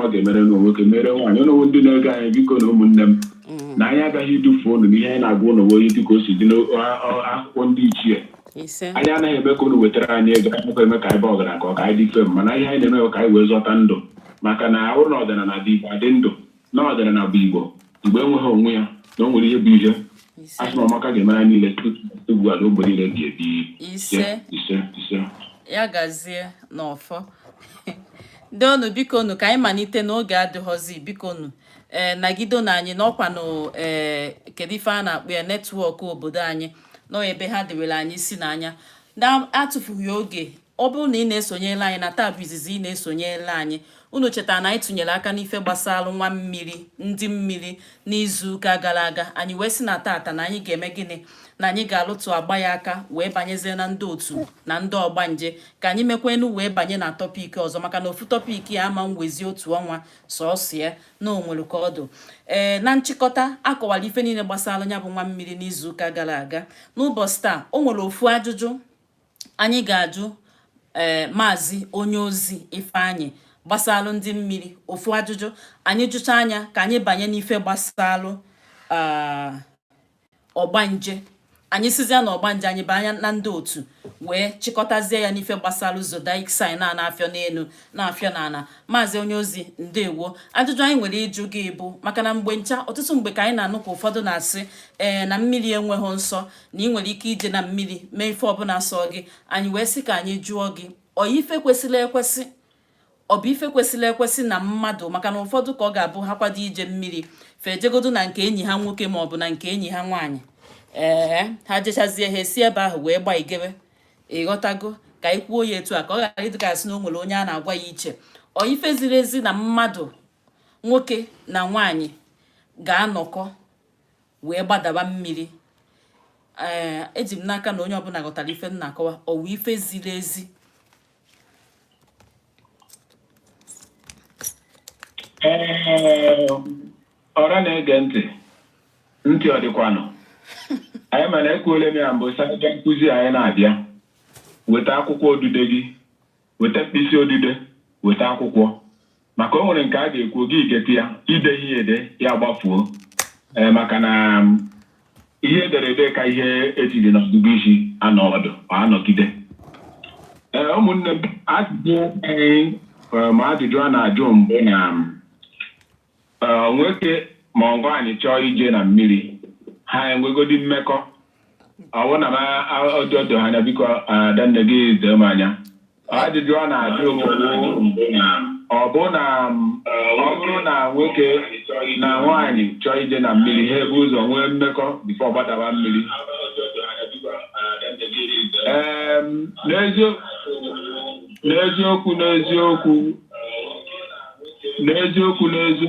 ọ ga-emere nụ nwoke mere nwaanyị ụnụwa ndị na-ege anyị biko na ụmụnne m mm. na anyị agaghị idufu ụnụ n'ihe anyị na-agwa ụnụ wụ ihe dịka o si dị n'akwụkwọ ndị ichie anyị anaghị eme ka ụnụ wetara anyị ego anyị nakwa eme ka anyị baa ọgaranya ka ọ ka anyị dị ife mana ihe anyị na-eme ka anyị wee zọta ndụ maka na ọ bụrụ na ọdịnala ndị igbo adị ndụ na ọdịnala bụ igbo mgbe enweghị onwe ya na o nwere ihe bụ ihe a sị na ọmaka ga-emere anyị niile ugbu a na ogbe niile bi ebi ise ise ise ya gazie n'ọfọ ndewo nu biko nu ka anyị malite na oge adịghọzi biko nu ee eh, nagide nu anyị na ọkwanu ee eh, kedu ife a na-akpọ ya netwọk obodo anyị nọ ebe ha dewere anyị isi n'anya na-atụfughị oge Ọ bụrụ na ị na-esonyere anyị na taa bụ izizi ị na-esonyere anyị unu chetara na anyị tụnyere aka n'ife gbasara nwa mmiri ndị mmiri n'izuụka gara aga anyị wee sị na tata na anyị ga-eme gịnị na anyị ga-alụtụkwa ya aka wee banyezie na ndị otu na ndị ọgbanje ka anyị mekwenu wee banye na tọpik ọzọ maka na ofu tọpik ya ama-ewezi otu ọnwa sọsọ ya na o nwere ka ọ dụ ee eh, na nchịkọta a kọwara ife niile gbasara ya bụ nwa mmiri n'izuụka gara aga n'ụbọchị taa o nwere ofu ajụjụ anyị ga-ajụ ee eh, maazị onye ozi Ifeanyị gbasalụ ndị mmiri ofu ajụjụ anyị jụchaa ya ka anyị banye n'ife gbasalụ ah, ọgbanje anyị sizie na ọgbanje anyị banye na ndị otu wee chịkọtazie ya n'ife gbasalụ zodiac sign a na-afịọ n'elu na-afịọ n'ala maazị onye ozi ndewo ajụjụ anyị nwere ịjụ gị bụ maka na mgbe ncha ọtụtụ mgbe ka anyị na-anụ ka ụfọdụ na-asị ee eh, na mmiri enweghị nsọ na ị nwere ike ije na mmiri mee ife ọbụla sọ gị anyị wee sị ka anyị jụọ gị ọ ife kwesịrị ekwesị ọ bụ ife kwesịrị ekwesị na mmadụ maka na ụfọdụ ka ọ ga-abụ ha kwado ije mmiri fa ejegodu na nke enyi ha nwoke ma ọ bụ na nke enyi ha nwaanyị ee ha jechazie ha esi ebe ahụ wee gbaa jebe ị ghọtago ka anyị kwuo ya etu a ka ọ ghara ịdị ka a sị na o nwere onye a na-agwa ya iche ọ ife ziri ezi na mmadụ nwoke na nwaanyị ga-anọkọ wee gbadaba mmiri ee eh, eji m n'aka na onye ọbụla ghọtara ife m na-akọwa ọ wụ ife ziri ezi eh, ọra na-ege ntị ntị ọ dịkwanụ anyị mma na ekwuole m ya mbụ sị nkụzi anyị na-abịa weta akwụkwọ odide gị weta mkpịsị odide weta akwụkwọ maka o nwere nke a ga-ekwu gị edeta ya i deghị ya ede ya gbafuo ee maka na ihe e dere ede ka ihe e tiri n'ọgụgụ isi anọ ọdụ ma anọgide ee ụmụnne m ajụjụ anyị ma ajụjụ a na-ajụ m bụ na Ee, nwoke ma ọ nwaanyị chọọ ije na mmiri ha enwegodi mmekọ ọ bụrụ na m ọjọdo ha anya biko adanne gị doo m anya ajụjụ ọ na-ajụ m bụ ọ bụ na m- ọ bụrụ na nwoke na nwaanyị chọọ ije na mmiri ha ebu ụzọ nwee mmekọ before gbadawa mmiri Ee, n'ezio- n'eziokwu n'eziokwu n'eziokwu n'ezi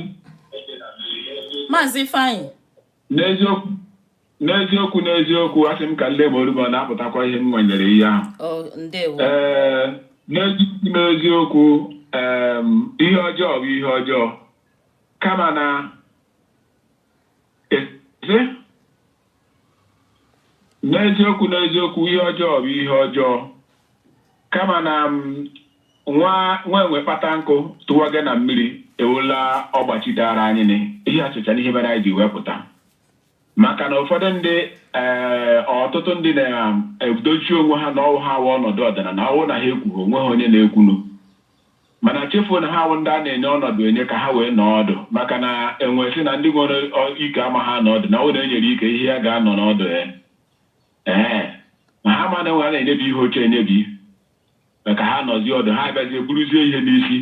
Maazị Ifeanyị n'eziokwu n'eziokwu n'eziokwu asị m ka m lee ma olu m ọ na-apụtakwa ihe m nwanyere ihe ahụ o ndewo ee n'eziokwu n'eziokwu em, ihe ọjọọ bụ ihe ọjọọ kama na n'eziokwu n'eziokwu ihe ọjọọ bụ ihe ọjọọ kama na m nwa nwa enwe kpata nkụ tụwa gị na mmiri ewela ọgbachi dara anyị nị. ihe achịcha n'ihe mere anyị ji wepụta maka na ụfọdụ ndị ee ọtụtụ ndị na-edochi onwe ha na ọ wụ ha nwe ọnọdụ ọdịnala ọ wụ na ha ekwughị o nweghị onye na-ekwunu Mana chefuo na ha wụ ndị a na-enye ọnọdụ enye ka ha wee nọọ ọdụ maka na enwe sị na ndị nwere ike amaghị anọ ọdụ na ọ wụ na e nyere ike ihe ya ga-anọ n'ọdụ ya. Ee, ma ha ma na enwe a na-enyebi ihe oche enyebi ka ha nọzie ọdụ ha abịazie buruzie ihe n'isi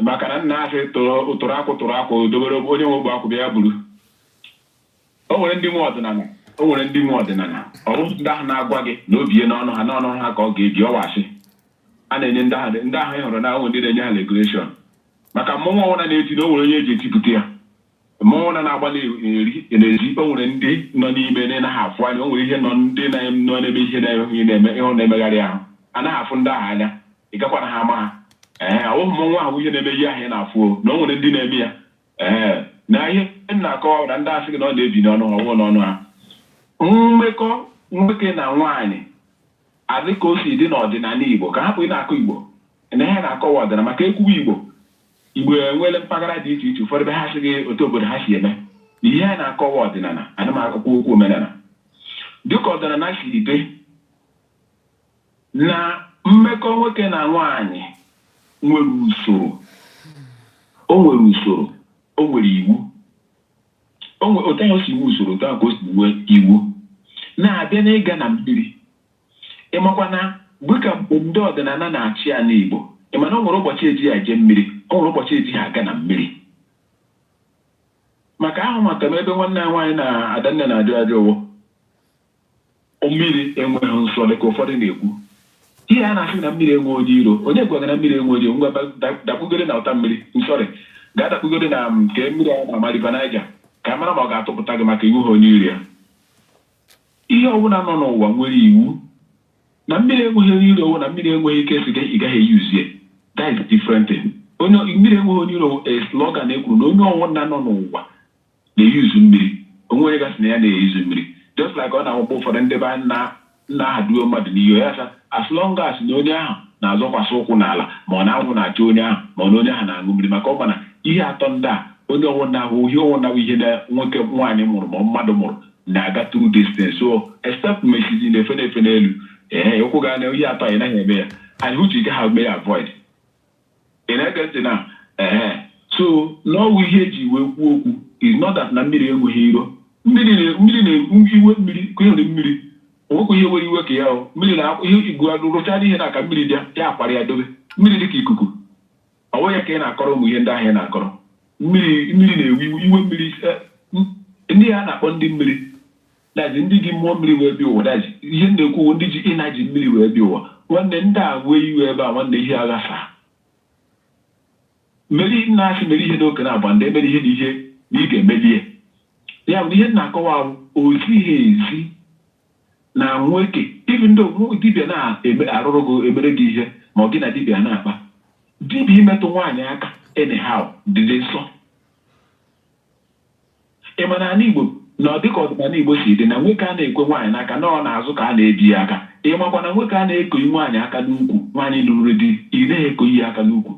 maka na nna asị tụrụ akwụ tụrụ akwụ dobere onye nwe ogbe akwụ bịa ya buru o nwere ndị nwe ọdịnala o nwere ndị nwe ọdịnala ọ wụ ndị ahụ na-agwa gị na o bie n'ọnụ ha n'ọnụ ha ka ọ ga-ebi ọ wụ oche a na-enye ndị ahụ ndị ahụ ị hụrụ na o nwe ndị na-enye ha regulation maka mmọnwụ ọ wụna na-eti na o nwere onye e ji etipụta ya mmọnwụ na na-agba n'ezi n'ezi o nwere ndị nọ n'ime anaghị afụ anya o nwere ihe nọ ndị nọ n'ebe ihe na-enweghị na-eme ịhụ na-emegharị ahụ anaghị afụ ndị ahụ anya ị gakwaghị ama ha ee ọ wụhụ mmọnwụ ahụ ihe na-eme ihe ahụ ị na-afụ na o nwere ndị na-eme ya ee na ihe m na-akọwa bụ na ndị a sị gị na ọ na-ebi n'ọnụ ha ọ wụ n'ọnụ ha mmekọ nwoke na nwaanyị a dịka o si dị n'ọdịnala Igbo ka a hapụ ịna-akọ Igbo na ihe a na-akọ wụ ọdịnala maka e kwuwe Igbo Igbo enweela mpaghara dị iche iche ụfọdụ ebe ha sị gị otu obodo ha si eme na ihe a na-akọ wụ ọdịnala ana m akọkwa okwu omenala dịka ọdịnala siri dị na mmekọ nwoke na nwaanyị nwere usoro o nwere usoro o nwere iwu otu ahụ o si nwee usoro otu ahụ ka o si nwee iwu na-abịa n'ịga na mmiri ị makwa na dịka mgbe ndị ọdịnala na-achị ala Igbo ị ma na o nwere ụbọchị e ji ya eje mmiri o nwere ụbọchị ejighị aga na mmiri maka ahụ maka m ebe nwanne ya nwaanyị na Adanne na-ajụ ajụjụ o mmiri enweghị nsọ dị ka ụfọdụ na-ekwu ihe a na-asị na mmiri enwe onye iro onye gwara gị na mmiri enwe onye ngwa dakpugoro na ụta mmiri nsọrị gaa dakpugoro na um, nke mmiri a na-ama River Niger ka a mara ma ọ ga-atụpụta gị maka ị wụha onye iro ya ihe ọbụla nọ n'ụwa nwere iwu na mmiri enweghị onye iro na mmiri enweghị ike si ị gaghị eyuzie that is different thing onye mmiri enweghị onye iro a slogan ekwuru na onye ọwụna nọ n'ụwa na-eyuzu mmiri. O nweghị onye ga-asị na ya anaghị eyuzu mmiri. Just like ọ na-awụkwa ụfọdụ ndị be anyị na ha duo mmadụ n'iyi, ọ ya asị ha, as long as na onye ahụ na-azọkwasị ụkwụ n'ala, ma ọ na anwụ na-acha onye ahụ, ma ọ na onye ahụ na-aṅụ mmiri, maka ọ ma na ihe atọ ndị a, onye ọwụna hụ ihe ọwụna bụ ihe na nwoke, nwaanyị mụrụ, ma ọ mmadụ mụrụ, na-aga through this thing. So, except ma ị sịzị na efe na-efe n'elu, ee, ụkwụ gị a na ihe atọ a ị naghị eme ya, and which ị gaghị eme ya avoid. Ị na-ege ntị na ehe so na ọ wụ ihe eji wee kwuo okwu is not that na mmiri enweghị iro mmiri na- mmiri na-ewe iwe mmiri ka ịhụrụ mmiri o nwekwa ihe were iwe ka ya o mmiri na ihe igbu rụchara ihe n'aka mmiri bịa ya akwarie ya dobe mmiri dị ka ikuku ọ bụghị ya ka ị na-akọrọ ụmụ ihe ndị ahụ ị na-akọrọ mmiri mmiri na-ewe iwe iwe mmiri eh, m- ndị a na-akpọ ndị mmiri That is ndị ji mmụọ mmiri wee bịa ụwa that is ihe m na-ekwu ndị ji energy mmiri wee bịa ụwa nwanne ndị a wee iwe ebe a nwanne ihe agha saa meri nna asị mere ihe n'oke na-agba ndị emere ihe na ihe na ị ga-emeli ya ya bụ ihe m na-akọwa ahụ o ziha ezi na nwoke even though dibịa na-arụrụ gị emere gị ihe ma ọ gị na dibịa na-akpa dibịa imetụ nwaanyị aka anyhow dịdị nsọ Ị ma na ala Igbo na dịka ọdịnala Igbo si dị na nwoke a na-ekwe nwaanyị n'aka na ọ n'azụ ka a na-ebi ya aka. Ị makwa na nwoke a na-ekoyi nwaanyị aka n'ukwu, nwaanyị lụrụ di, ị naghị ekoyi ya aka n'ukwu.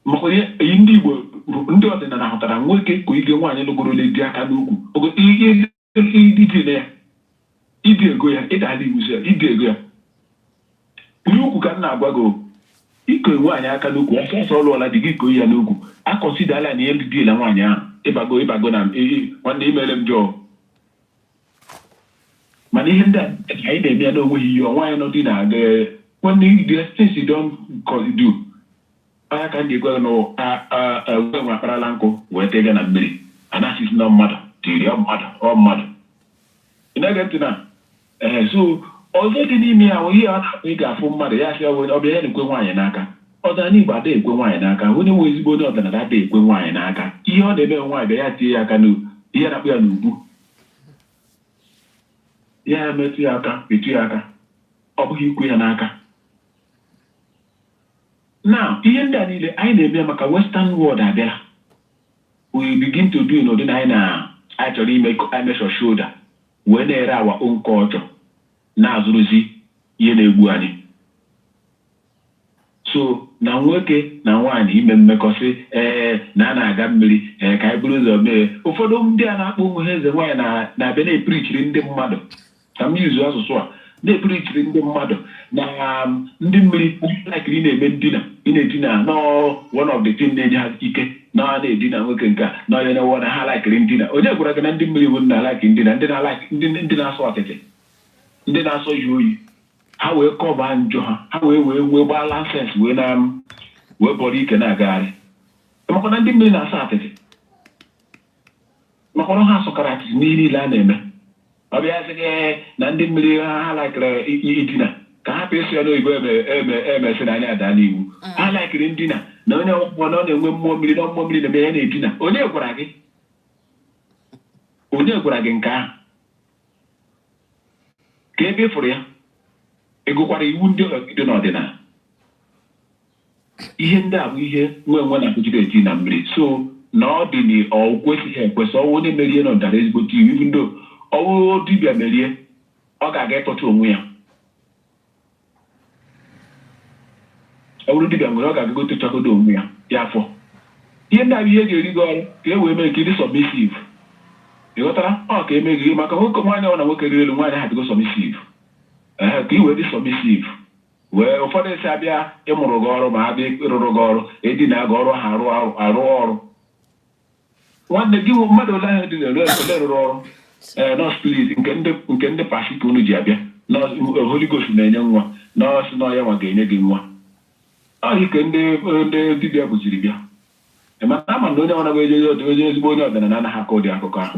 Makwa ihe iyi ndị Igbo bụ ndị ọdịnala hụtara nwoke koyige nwaanyị lụgorole di aka n'ukwu, ogo i i i idina ya. ị dị eko ya ị dala iwuzi ya ị dị eko ya n'ukwu ka m na-agwa gị o. iko nwaanyị aka n'ukwu ọsọ ọsọ ọ lụọla di gị iko ya n'ukwu akọsidala na ihe ndị diela nwaanyị ahụ ịbago ịbago na m- ị- ị- nwanne imere m jọọ mana ihe ndị a ka anyị na-eme ya na o nweghị ihe ọnwa anyị nọdị na-aga nwanne the things you don't co- do onye ka m ji gwa gị na ọ- a- a- a- nwe nwe akparala nkụ wee tega na mmiri anasis na mmadụ tiri ọ mmadụ ọ mmadụ Ị na-ege ntị na? Ee, so ọzọ dị n'ime ya bụ ihe a na-akpọ ị ga-afụ mmadụ ya sị onye ọbịa ya na-ekwe nwaanyị n'aka. Ọdịnala Igbo ada ekwe nwaanyị n'aka. Onye wụ ezigbo onye ọdịnala ada ekwe nwaanyị n'aka. Ihe ọ na-eme nwaanyị bịa ya tie ya aka n'u ihe a na-akpọ ya n'ubu. Ya emetụ ya aka, etu ya aka. Ọ bụghị ikwe ya n'aka. na ihe ndị a niile anyị na-eme ya maka western world abịala we begin to do n'ụdị na anyị na anyị chọrọ ime measure shoulder wee na-ere our own culture na-azụrụzi ihe na-egbu anyị so na nwoke na nwaanyị ime mmekọ sị ee na a na-aga mmiri ee ka anyị buru ụzọ mee ụfọdụ ndị a na-akpọ onwe ha eze nwaanyị na-abịa na-epirichiri ndị mmadụ ka m use asụsụ a na-epirichiri ndị mmadụ na um, ndị mmiri laikiri na-eme ndina ị na-edina na ọ one of the thing na-enye ha ike na na-edina nwoke nke a na onye na-ewe na ha laikiri ndina onye gwara gị na ndị mmiri bụ na laikiri ndina ndị na-alaiki ndị ndị na-asọ atịtị ndị na-asọ ihe oyi ha wee kọba njọ ha ha wee wee wee gbaa lansens wee na wee bọrọ ike na-agagharị makwa na ndị mmiri na-asọ atịtị maka na ha sọkara atịtị n'ihe niile a na-eme ọ bịa sị gị na ndị mmiri ha ha laikere i- i- idina ka ha pịa ya n'oyibo eme- eme- emesị na anyị ada n'iwu ha laikere ndina na onye ọgwụgwọ na ọ na-enwe mmụọ mmiri na mmụọ mmiri na-eme ya na-edina onye gwara gị onye gwara gị nke ahụ kee ebe ị fụrụ ya ị gụkwara iwu ndị dị n'ọdịnala Ihe ndị a bụ ihe nwa enwe na-agụjide eti na mmiri so na ọ dị na ọ kwesịghị ekwesị ọ wụ onye merie na ọ dara ezigbote iwu ibu ndị ọ wụ dibịa merie ọ ga-aga ịtọcha onwe ya ọ bụrụ dibịa nwere ọ ga-agago tọchagodo onwe ya ya afọ ihe ndị a bụ ihe ga-eri gị ọrụ ka e wee mee ka ị dị submissive ị ghọtara ọ ka eme gị maka nwoke nwaanyị ọ na nwoke rịrị elu nwaanyị ha dịgo submissive ka i wee dị submissive Wee ụfọdụ asị a bịa ịmụrụ gị ọrụ ma a bịa ịrụrụ gị ọrụ e dina gị ọrụ ha arụ arụ ọrụ nwanne gịnwa mmadụ ole ahụ dị na-eru ole rụrụ ọrụ ee eh, nọọsụ plis nke ndị pastor ka unu ji abịa eh, Holy Ghost na-enye nwa na ọ sị na ọ yanwa ga-enye gị nwa ọ ya ka ndị ndị dibịa buziri bịa eh, mana a ma na onye ọ naghị eje onye ezigbo onye ọdịnala anaghị akọ ụdị akụkọ ahụ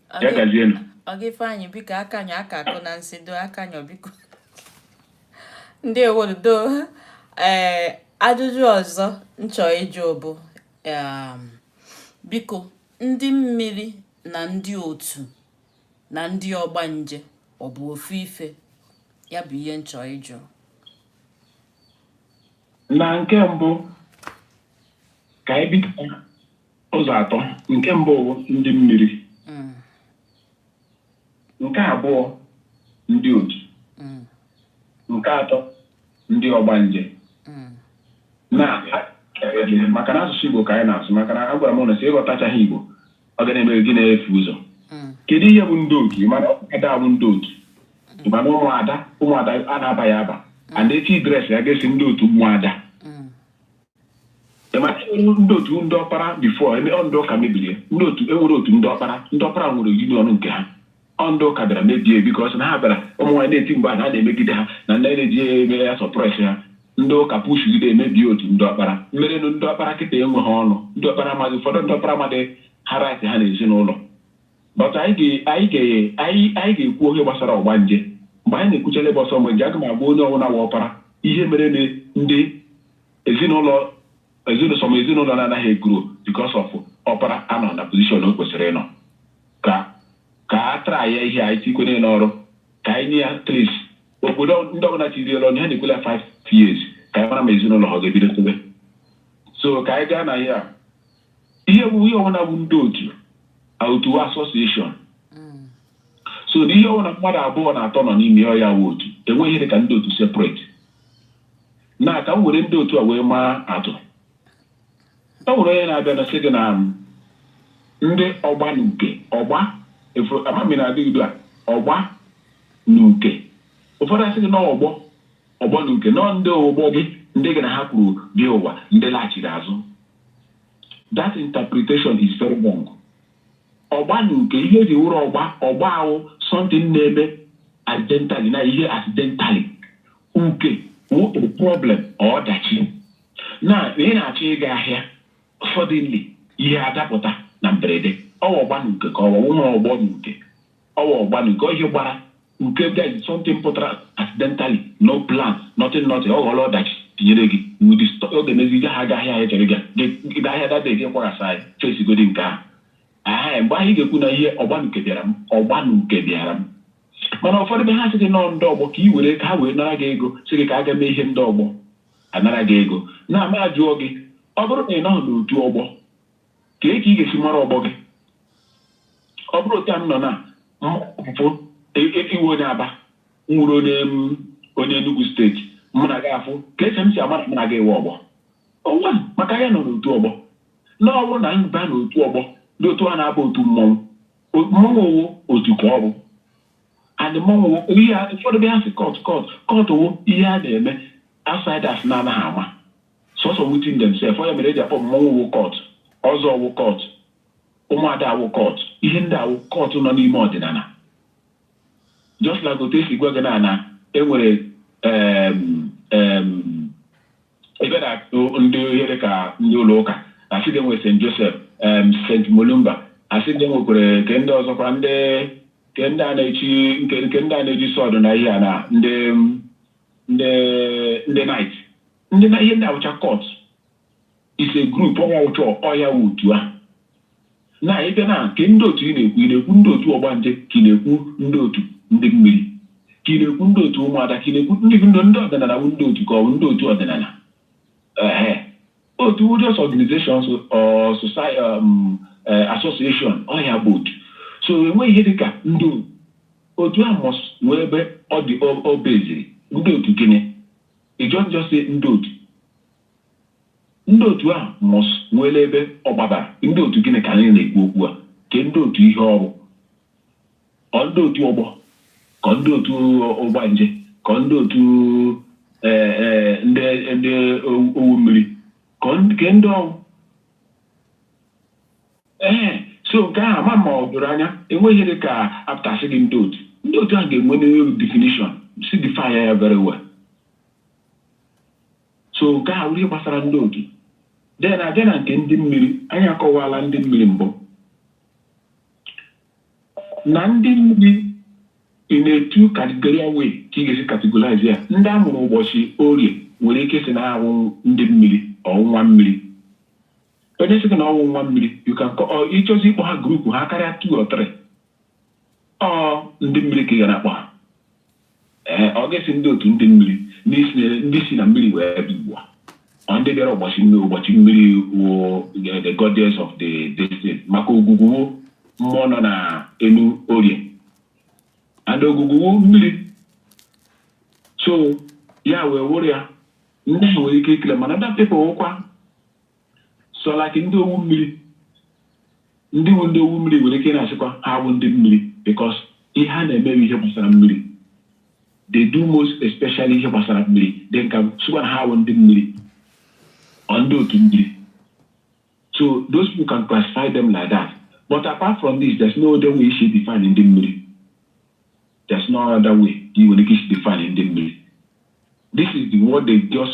ya gazienụ ọga Ifeanyị biko akanyụ aka akụ na nsị doo akanyụ biko ndị owodo ee eh, ajụjụ ọzọ m chọ ịjụ bụ um, biko ndị mmiri na ndị otu na ndị ọgbanje ọ bụ ofu ife ya bụ ihe m chọ ịjụ na nke mbụ ka anyị bido ụzọ atọ nke mbụ wụ ndị mmiri Mm, nke abụọ ndị otu mm, nke atọ ndị ọgbanje mm. na maka na asụsụ Igbo ka anyị na-asụ maka na agwara m unu sị ị ghọtachaghị Igbo ọ ga na-eme gị na-efu ụzọ Mm, kedu ihe bụ ndị otu mana ada bụ ndị otu mana ụmụada ụmụada a na-aba ya aba and echi dress ya ga-asị ndị otu ụmụada ndị otu ndị ọkpara before eme ọ ndị ụka mebiri ndị otu enwere otu ndị ọkpara ndị ọkpara nwere union nke ha ọ ndị ụka bịara mebie because na ha bịara ụmụ nwaanyị na-eti mkpu na a na-emegide ha na ndị na-eji eme ya suppress ha ndị ụka pushigide emebie otu ndị ọkpara mmerenụ ndị ọkpara kịta enweghị ọnụ ndị ọkpara amaghị ụfọdụ ndị ọkpara amadị ha right ha na ezinụlọ but anyị ga-ekwu ihe gbasara ọgbanje mgbe anyị na-ekwucha gbasara ọgbanje aga m agwa onye ọbụla wụ ọpara ihe mere na ndị ezinụlọ ezinụlọ ma ezinụlọ na-anaghị egrow because of ọpara anọ na position o kwesịrị ịnọ ka ka a tara ya ihe anyị tikwere n'ọrụ ka anyị nye ya tris obodo ndị ọbụla chiriela ọnụ ha na-ekwela 5 years ka anyị mara ma ezinụlọ ọ ga-ebido tobe so ka anyị gaa na ihe a ihe bụ ihe ọbụla bụ ndị otu otu association so na ihe ọbụla mmadụ abụọ na atọ nọ n'ime ya bụ otu enweghị ihe dị ka ndị otu separate na ka m were ndị otu a wee maa atụ e nwere onye na-abịa na-asị gị na um, ndị ọgba na uke ọgba amami na-adị udo a ọgba na uke ụfọdụ asị gị na ọgbọ ọgbọ na uke nọọ ndị ọgbọ gị ndị gị na ha kwuru bịa ụwa ndị laghachiri azụ that interpretation is very wrong ọgba na uke ihe eji wụrụ ọgba ọgba ahụ something na-eme accidentally na ihe accidentally uke wụ problem ọdachi na ị na-achọ ịga ahịa suddenly ihe adapụta na mberede ọ wụ ọgba na uke ka ọ wụ ụmụ ọgbọ na uke ọ wụ ọgba na uke ihe gbara uke bịa something pụtara accidentally no plan nothing nothing ọ ghọrọ ọdachi tinyere gị ọ ga-emezi gaghị aga ahịa ahụ ị chọrọ ịga ahịa that day gị kwaghasa anyị fesigodi nke ahụ mgbe anyị ga-ekwu na ihe ọgba na uke bịara m ọgba na uke bịara m mana ụfọdụ ebe ha sị gị nọọ ndị ọgbọ ka i were ka ha wee nara gị ego sị gị ka a gaa mee ihe ndị ọgbọ anara gị ego na ama ajụọ gị ọ bụrụ na ị nọghị n'otu ọgbọ kee ka ị ga-esi mara ọgbọ gị ọ bụrụ otu a m nọ na mfụ ị wụ onye Aba m wụrụ onye onye Enugu State mụ na gị afụ ka esi m si amara mụ na gị wụ ọgbọ ọ wụ maka ya nọ n'otu ọgbọ na ọ wụ na ịba n'otu ọgbọ dị otu a na-aba otu mmọnwụ mmanwụ wụ otu ka ọ bụ and mmanwụ wụ ihe ụfọdụ bịa sị cult cult cult wụ ihe a na-eme outsiders na-anaghị ama sọsọ within themselves ọ ya mere eji akpọ mmanwụ wụ cult ọzọ wụ cult ụmụada wụ cult ihe ndị a wụ cult nọ n'ime ọdịnala just like otu esi gwa gị na na enwere ebe na ndị ihe dị ka ndị ụlọ ụka asị gị enwe St. Joseph St. Mulumba asị gị enwekwere nke ndị ọzọkwa ndị nke ndị a na-echi nke nke ndị a na-eji sword na ihe a na ndị ndị ndị knight ndị na ihe ndị a wụcha cult is a group ọnwa ụchọ ọ ya wụ otu a Na ị bịa na nke ndị otu ị na-ekwu, ị na-ekwu ndị otu ọgbanje ka ị na-ekwu ndị otu ndị mmiri ka ị na-ekwu ndị otu ụmụada ka ị na-ekwu ndị bụ ndị ndị ọdịnala bụ ndị otu ka ọ bụ ndị otu ọdịnala ehe otu wụ just organizations or society um, eh, association ọ ya bụ otu so enweghị ihe dị ka ndị otu otu ahụ must nwee ebe ọ dị o- o beziri ndị otu gịnị you don't just say ndị otu Ndị otu ahụ must nweela ebe ọ gbadara. Ndị otu gịnị ka anyị na-ekwu okwu a? Ke ndị otu ihe ọrụ? Kọ ndị otu ọgbọ? Kọ ndị otu ọgbanje? Kọ ndị otu eh, eh, ndị ndị owu owu mmiri? Kọ ndị- ke ndị ọ wụ? ee so nke ahụ ama m ma o doro anya enweghị ihe dị ka apụta sị gị ndị otu ndị otu ahụ ga-enwe definition si define ya very well so nke a ihe gbasara ndị otu then abịa na nke ndị mmiri anyị akọwala ndị mmiri mbụ na ndị mmiri in a two categorical way ka ị ga-esi categorize ya ndị a mụrụ ụbọchị orie nwere ike sị na ha wụ ndị mmiri or nwa mmiri onye sị na ọ wụ nwa mmiri you can call ịchọzi ịkpọ ha group ha karịa two or three ọ ndị mmiri ka ị ga na-akpọ ha Ee, ọ ga-esi ndị otu ndị mmiri n'isi na- ndị si na mmiri wee bịa ugbu a. Ọ ndị bịara ụbọchị mmiri ụbọchị mmiri wụ the- the goddess of the this thing maka ogwugwu wụ mmụọ nọ na enu orie and ogwugwu wụ mmiri so ya wee wụrụ ya ndị ahụ nwere ike ikele mana ndị people wụkwa so like ndị owu mmiri ndị wu ndị owu mmiri nwere ike na-asịkwa ha bụ ndị mmiri because ihe ha na-eme wụ ihe gbasara mmiri they do most especially ihe gbasara mmiri they can sịkwa na ha bụ ndị mmiri or ndị otu mmiri so those people can classify them like that but apart from this there's no other way esi define ndị mmiri there's no other way you nwere ike isi define ndị mmiri this is the word they just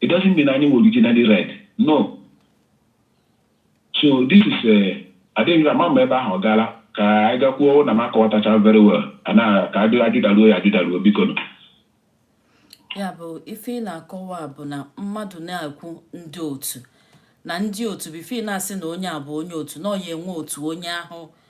It doesn't mean anyị were originally red. No. So this is a eh, adịghị ama ma ebe ahụ ọ gaala ka anyị gakwuo na m akọwatacha very well ana ka ajụdaruo ya ajụdaruo biko nụ ya bụ ife ị na-akọwa bụ na mmadụ na-ekwu ndị otu na ndị otu bụ ife ị na-asị na onye a bụ onye otu na ọ ya-enwe otu onye ahụ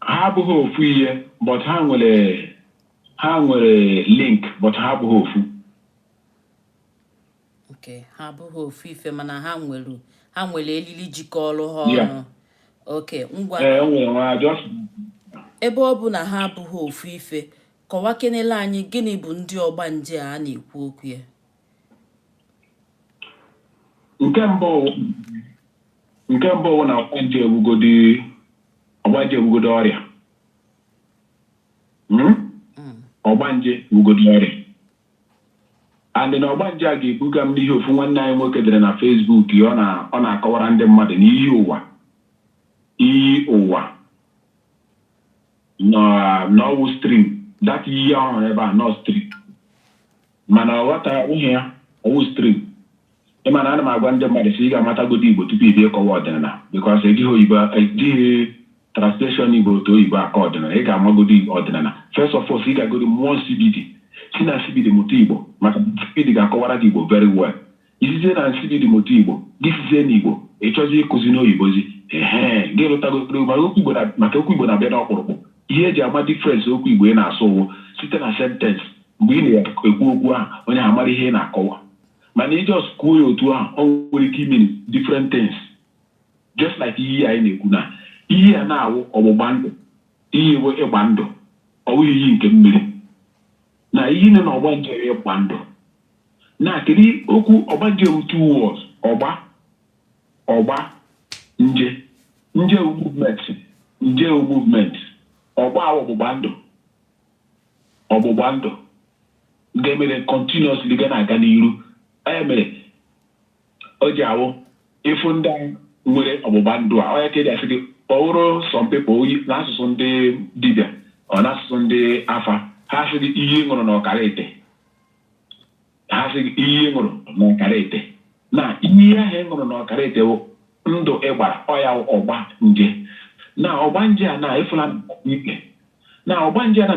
Ha abụghị ofu ihe but ha nwere ha nwere link but ha abụghị ofu. okay ha abụghị ofu ife mana ha nwere ha nwere elili jikọrọ ha ọnụ okay ngwa eh, ebe ọ bụ na ha abụghị ofu ife kọwakenele anyị gịnị bụ ndị ọgbanje a na-ekwu okwu ya nke mbụ na ọgbanje ewugodi ọgbanje ewugodo ọrịa hmm? hmm. ọgbanje ewugodo ọrịa and na ọgbanje a ga-ebuga m n'ihe ofu nwanne anyị nwoke dere na Facebook ya ọ na-akọwara ndị mmadụ na iyi ụwa iyi ụwa n'ọwụ stream that iyi ọ hụrụ ebe a n'ọọ stream mana ọ ghọtahụ ya ọwụ stream ị ma na ana m agwa ndị mmadụ sị ị ga-amatagodi Igbo tupu ị bịa ịkọwa ọdịnala because ejighị oyibo ejighị translation Igbo to oyibo akọ ọdịnala ị ga-amagodi ọdịnala first of all sị ị ga-agodi mụọ nsibidi si na nsibidi mụta Igbo maka nsibidi ga-akọwara gị Igbo very well I sizie na nsibidi mụta Igbo, gị sizie n'Igbo, ị chọzie ịkụzi n'oyibozi. Ehee, gị lụtagoro maka okwu Igbo na-abịa n'ọkpụrụkpụ. Ihe e ji ama difference okwu Igbo ị na-asụ ọ wụ site na sentence. Mgbe ị na-ekwu okwu ahụ, onye ahụ mara ihe ị na-akọwa. Mana ị just kwuo ya otu ahụ, o nwere ike i-mean different things. Just like iyi anyị na-ekwu na iyi a na-awụ ọgbụgba ndụ, iyi bụ ịgba ndụ, ọ wụghị iyi nke mmiri. na iyi nọ na ọgbanje wụ ịgba ndụ na kedu okwu ọgbanje ọ wụ two words ọgba ọgba nje nje wụ movement nje wụ movement ọgba a wụ ọgbụgba ndụ ọgbụgba ndụ ga-emere continuously ga na-aga n'iru ya mere o ji awụ ị fụ ndị a nwere ọgbụgba ndụ a ọ ya ka eji asị gị ọ wụrụ some people n'asụsụ ndị dibịa ọ n'asụsụ ndị afa ha sị gị iyi ṅụrụ na ọkara ite ha sị gị iyi ṅụrụ na ọkara ite na iyi ahụ ị ṅụrụ na ọkara ite bụ ndụ ị gbara ọ ya wụ ọgbanje na ọgbanje a na ị fụla ikpe na ọgbanje a na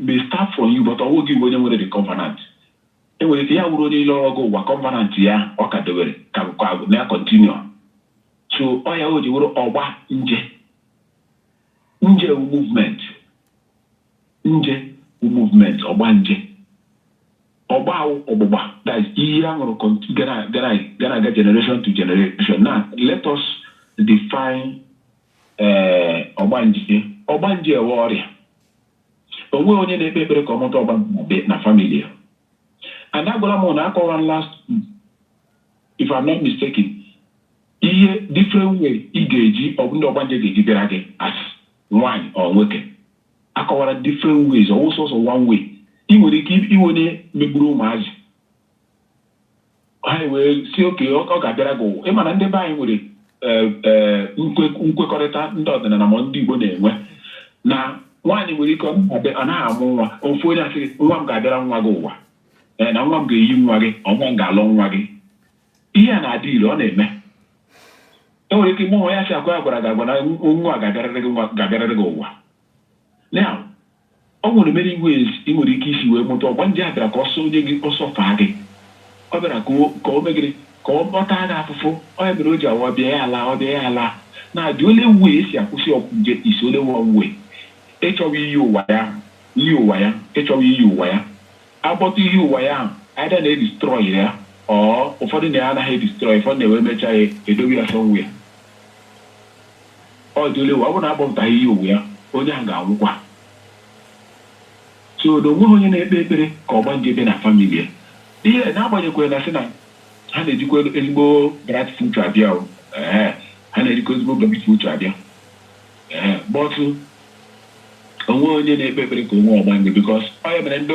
may start from you but ọwụ gị bụ onye nwere the covenant E nwere ike ya wụrụ onye lọọ gị ụwa covenant ya ọ ka dị were ka na-acontinue so ọ ya o ji wụrụ ọgba nje nje wụ movement nje wụ movement ọgba nje ọgba a wụ ọgbụgba that is iyi a ṅụrụ cont- ga na-aga generation to generation now let us define eh, ọgbanje ọgbanje ewu ọrịa onweghị onye na-ekpe ekpere ka ọ mụta ọgbanje na family ya and agwara m na akọwara m last if I'm not mistaken ihe different way ị ga-eji ọbụ ndị ọgbanje ga-eji bịara gị as nwaanyị or nwoke akọwara different ways ọ wụ sọsọ one way ị nwere ike ịwụ onye megburu ụmụazị ha wee sị okay ọ ọ ga-abịara gị ụwa ị ma na ndị be anyị nwere eh, eh, nkwe- nkwekọrịta ndị ọdịnala ma ndị Igbo na-enwe na nwaanyị nwere ike ọ na-abịa- ọ naghị amụ nwa ofu onye asị gị, nwa m ga-abịara nwa gị ụwa Eh, na nwa m ga-eyi nwa gị or nwa m ga-alụ nwa gị ihe a na-adị ire ọ na-eme e nwere ike ịmụ nwa ya sị akwa ya gwara gị agwa na nwa a ga-abịarịrị gị nwa- ga-abịarịrị gị ụwa Now, O nwere many ways i nwere ike isi wee mụta ọgbanje a bịara ka ọ sọ onye gị ọ suffer gị. Ọ bịara ka o ka o mee gịnị? Ka ọ ọ taa gị afụfụ. Ọ ya mere o ji awụ ọ bịa ya alaa, ọ bịa ya alaa. Now the only way e si akwụsị ọgbanje is only one way. Ị chọwa iyi ụwa ya, iyi ụwa ya. Ị chọwa iyi ụwa ya. Abọta iyi ụwa ya ahụ either na e destroy ya or ụfọdụ na ha anaghị e destroy, ụfọdụ na-ewe emecha ya edowe ya somewhere. Ọ the only way ọ bụrụ na abọpụtaghị iyi ụwa ya, onye ahụ ga-anwụkwa. So na onweghị onye na-ekpe ekpere ka ọgbanje bịa na family ya. Ihe n'agbanyekwere na sị na ha na-ejikwa ezigbo bright future abịa o, ehe, ha na-ejikwa ezigbo bright future abịa. Ee, but onweghị onye na-ekpe ekpere ka o nwee ọgbanje because ọ ya mere ndị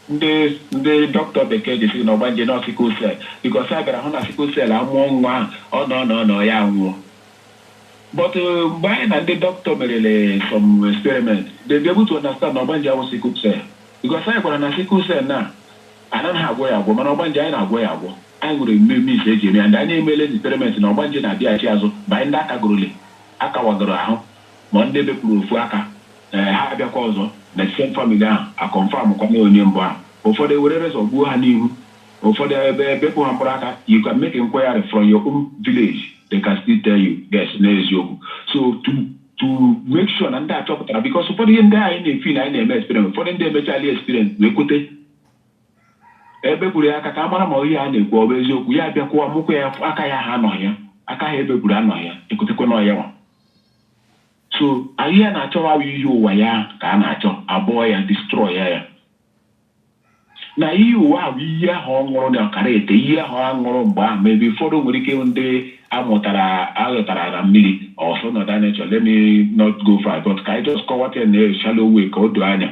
ndị ndị dọkịta bekee ji sị na ọgbanje na ọ sickle cell because a bịara hụ na sickle cell amụọ nwa ahụ ọ nọ nọ nọ ya nwụọ but mgbe anyị na ndị dọkịta merele some experiment they be able to understand na ọgbanje awụghị sickle cell because anyị gwara na sickle cell na anaghị agwọ ya agwọ mana ọgbanje anyị na-agwọ ya agwọ anyị nwere many means eji eme ya ndị anyị emeela experiment na ọgbanje na-abịaghachi azụ mgbe anyị ndị a kagorole A kawagoro ahụ ma ndị e bepụrụ ofu aka, ee, ha abịakwa ọzọ na the same family ahụ, a confirm kwa na onye mbụ ahụ. Ụfọdụ ewere razor gbuo ha n'ihu, ụfọdụ ebe bepụ ha mkpụrụ aka, you can make inquiry from your own village, they can still tell you yes na eziokwu. So to to make sure na ndị a chọpụtara, because ụfọdụ ihe ndị anyị na-efeel na anyị na-eme experience, ụfọdụ ndị emechaala ya experience wee kwete. Ebepụrụ ya aka ka a mara ma ihe a na-ekwu ọ bụ eziokwu, ya abịakwa amụkwa ya aka ya ahụ anọghị ya, aka ahụ ebepụrụ anọghị ya, ekwetekwa na ọ ya nwa. So anyị ya na-achọwa awụ iyi ụwa ya ka a na-achọ abọọ ya destroy ya ya. Na iyi ụwa ahụ iyi ahụ ọ ṅụrụ na ọkara ete iyi ahụ a ṅụrụ mgbe ahụ maybe ụfọdụ nwere ike ịhụ ndị amụtara aghọtara na mmiri or some other nature let me not go far but ka anyị just kọwata ya na shallow way ka o doo anya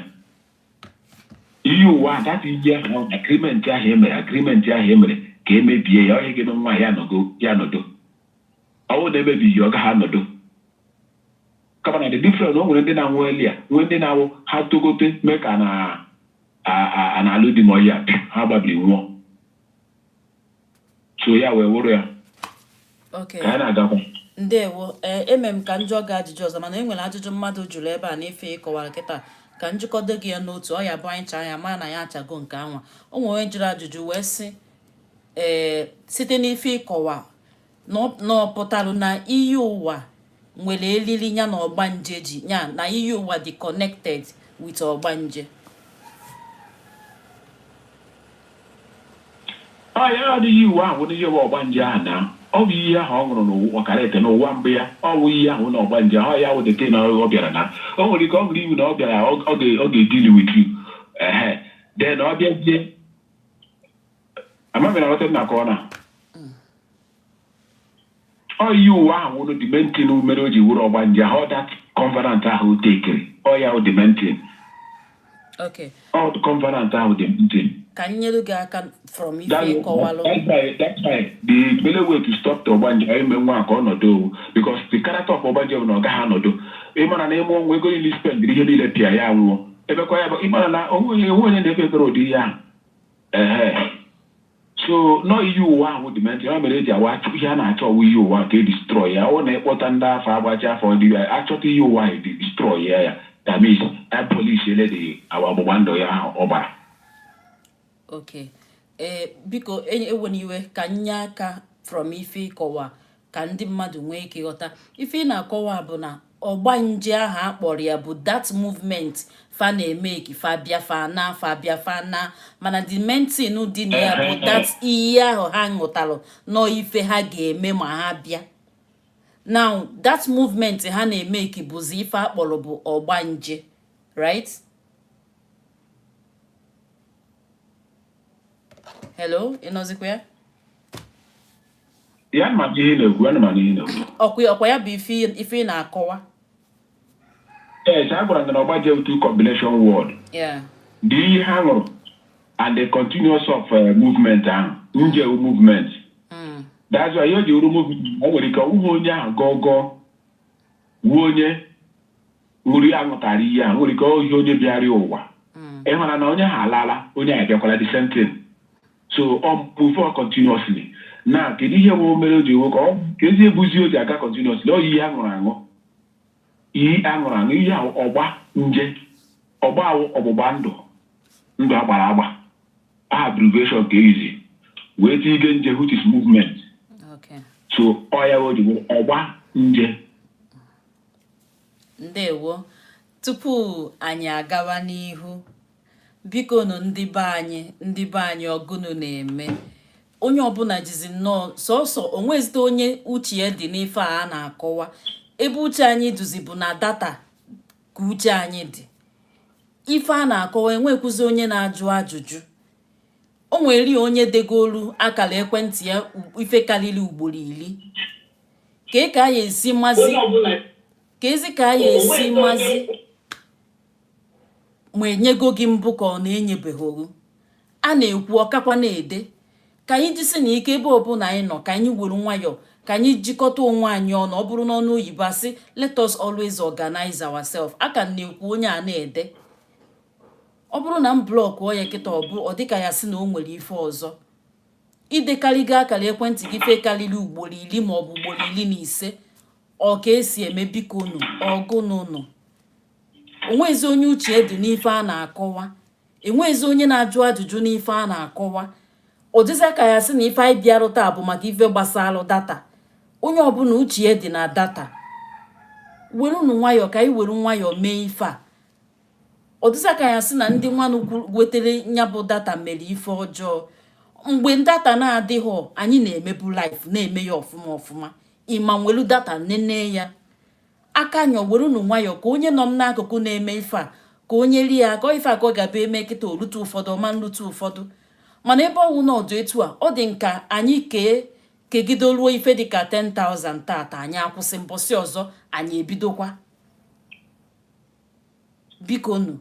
iyi ụwa that iyi ahụ agreement ahụ e mere agreement ahụ e mere ka e mebie ya ọ ya ga-eme nwa ya nọgo ya nọdo ọ wụ na e mebighị ọ gaghị anọdo kama na the difference o nwere ndị na-anwụ earlier nwee ndị na-awụ ha togote mee ka na a- a- a na-alụ di ma ọ ya pịa, ha gbabiri nwụọ so ya wee wụrụ ya ka ya na-agakwa ndewo ee eh, eme m ka m jụọ gị ajụjụ ọzọ mana e nwere ajụjụ mmadụ jụrụ ebe a n'ife ị kọwara kịta ka m jikọdo gị ya n'otu ọ ya bụ anyị chaa ya ma na ya achago nke anwa o nwere onye jụrụ ajụjụ wee sị ee eh, site n'ife ị kọwa na ọ pụtara na iyi ụwa nwere elili ya na ọgbanje ji ya na iyi ụwa dị connected with ọgbanje ya the iyi ụwa ahụ na ihe bụ ọgbanje ahụ na ọ bụ iyi ahụ ọ ṅụrụ n'ụwa ọkara ete n'ụwa mbụ ya ọ bụ ihe ahụ na ọgbanje ahụ ya wụ that na ọ bịara na o nwere ike ọ ṅụrụ iyi na ọ bịara ọ ga-edeal with you ehe then ọ bịazie amaghị na weta na-akọ na ọ iyi ụwa ahụ wụrụ the main thing mere o ji wụrụ ọgbanje ahụ that covenant ahụ tekiri ọ ya wụ the main thing Okay. ọ the covenant ahụ the main thing Ka m nyere gị aka from ife That- ị kọwalụ. that's why- that's why the only way to stop the ọgbanje or ime nwa ka ọ nọdụ ọ wụ because the character of ọgbanje bụ na ọ gaghị anọdụ ị mara na ị mụ nwa ego niile spend ihe niile pịa ya nwụọ ebekwa ya bụ ị mara na o nwe onye o nwe onye na-ekpe ekpere ụdị ihe ahụ Ehe. so na ọ iyi ụwa ahụ wụ the main thing ya mere e ji awa achụ ihe a na-achọ ọ wụ iyi ụwa ka e destroy ya ọ na-akpọta ndị afa agbachaa afa dị ya achọta iyi ụwa ahụ destroy ya ya that means abolishiele the iyi ụwa ọgbụgba ndụ ya ahụ ọ gbara okay ee biko ewena iwe ka m nye aka from ife ị kọwa ka ndị mmadụ nwee ike ghọta ife ị na-akọwa bụ na ọgbanje ahụ a kpọrọ ya bụ that movement fa na-emake fa bịa fa naa fa bịa fa naa mana the main thing dị na ya bụ that iyi ahụ ha ṅụtalụ na ọ ife ha ga-eme ma ha bịa now that movement ha na-emake bụzi ife a kpọrọ bụ ọgbanje right hello ị nọzikwa ya ya ma ihe na-ekwu ya ma ihe na-ekwu ọkwa ọkwa ya bụ ife ị- ife ị na-akọwa yes a gwara gị na ọgbanje ọ two combination word Yeah. the iyi ha ṅụrụ and the continuous of uh, movement ahụ nje wụ movement Mm. that's why ihe o ji wụrụ movement o nwere ike ọ wụghị onye ahụ gọọ gọọ wụọ onye Uri a ghọtara ihe a nwere ike ohi onye bịara ụwa mm. ị mara na onye a alaala onye abịakwala the same thing so ọ move on continuously na kedu ihe bụ mere o ji ewe ka ọ ka ezi ebuzi o ji aga continuously ọ iyi a ṅụrụ aṅụ iyi a ṅụrụ aṅụ ihe ahụ ọgbanje ọgba ahụ ọgbụgba ndụ ndụ agbara agba aha abbreviation ka e jizi wee tinye ike nje which is movement so ọ ya o ji ọgbanje ndewo tupu anyị agawa n'ihu biko nụ ndị be anyị ndị be anyị ọ gụnụ na-eme onye ọbụla jizi nnọọ sọsọ o nwezite onye uche ya dị n'ife a a na-akọwa ebe uche anyị dịzi bụ na data ka uche anyị dị ife a na-akọwa enwekwuzi onye na-ajụ ajụjụ o nwere onye degolu akara ekwentị ya ife karịrị ugboro iri ka ị ka anyị esi mazi ka ezi ka anyị esi mazi ma e nyego gị mbụ ka ọ na-enyebeghị oru a na-ekwu ọ ka kwa na-ede ka anyị jisi na ike ebe ọbụla anyị nọ ka anyị were nwayọọ ka anyị jikọta onwe anyị ọnụ ọ bụrụ n'ọnụ oyibo a sị let us always organize ourselves a ka m na-ekwu onye a na-ede ọ bụrụ na m blọkụọ ya kịta ọ bụ ọ dịka a ya-asị na o nwere ife ọzọ i dekarịgo akara ekwentị gị ife karịrị ugboro iri maọbụ ugboro iri na ise ọ ka e si eme biko nụ ọ gụnụ nụ o nwezi onye uche ya dị n'ife a na-akọwa enwezi onye na-ajụ ajụjụ n'ife a na-akọwa ọ dịza ka a ya-asị na ife anyị bịarụ taa bụ maka ife gbasara data onye ọbụla uche ya dị na data werunu nwayọọ ka anyị were nwayọọ mee ife a ọ dịza ka a ya-asị na ndị nwanụ wetara ya bụ data mere ife ọjọọ mgbe data na-adịghị anyị na-emebu live na-eme ya ọfụma ọfụma ị ma nwelu data nene ya aka nyọ werunu nwayọọ ka onye nọ m n'akụkụ na-eme ife a ka o nyere ya aka ife a ka ọ ga-abụ eme kịta o lute ụfọdụ ọ ma-elute ụfọdụ mana ebe ọ wụ na ọ dị etu a ọ dị m ka anyị kee kegide ruo ife dịka 10,000 tata anyị akwụsị mbọsị ọzọ anyị ebidokwa biko nu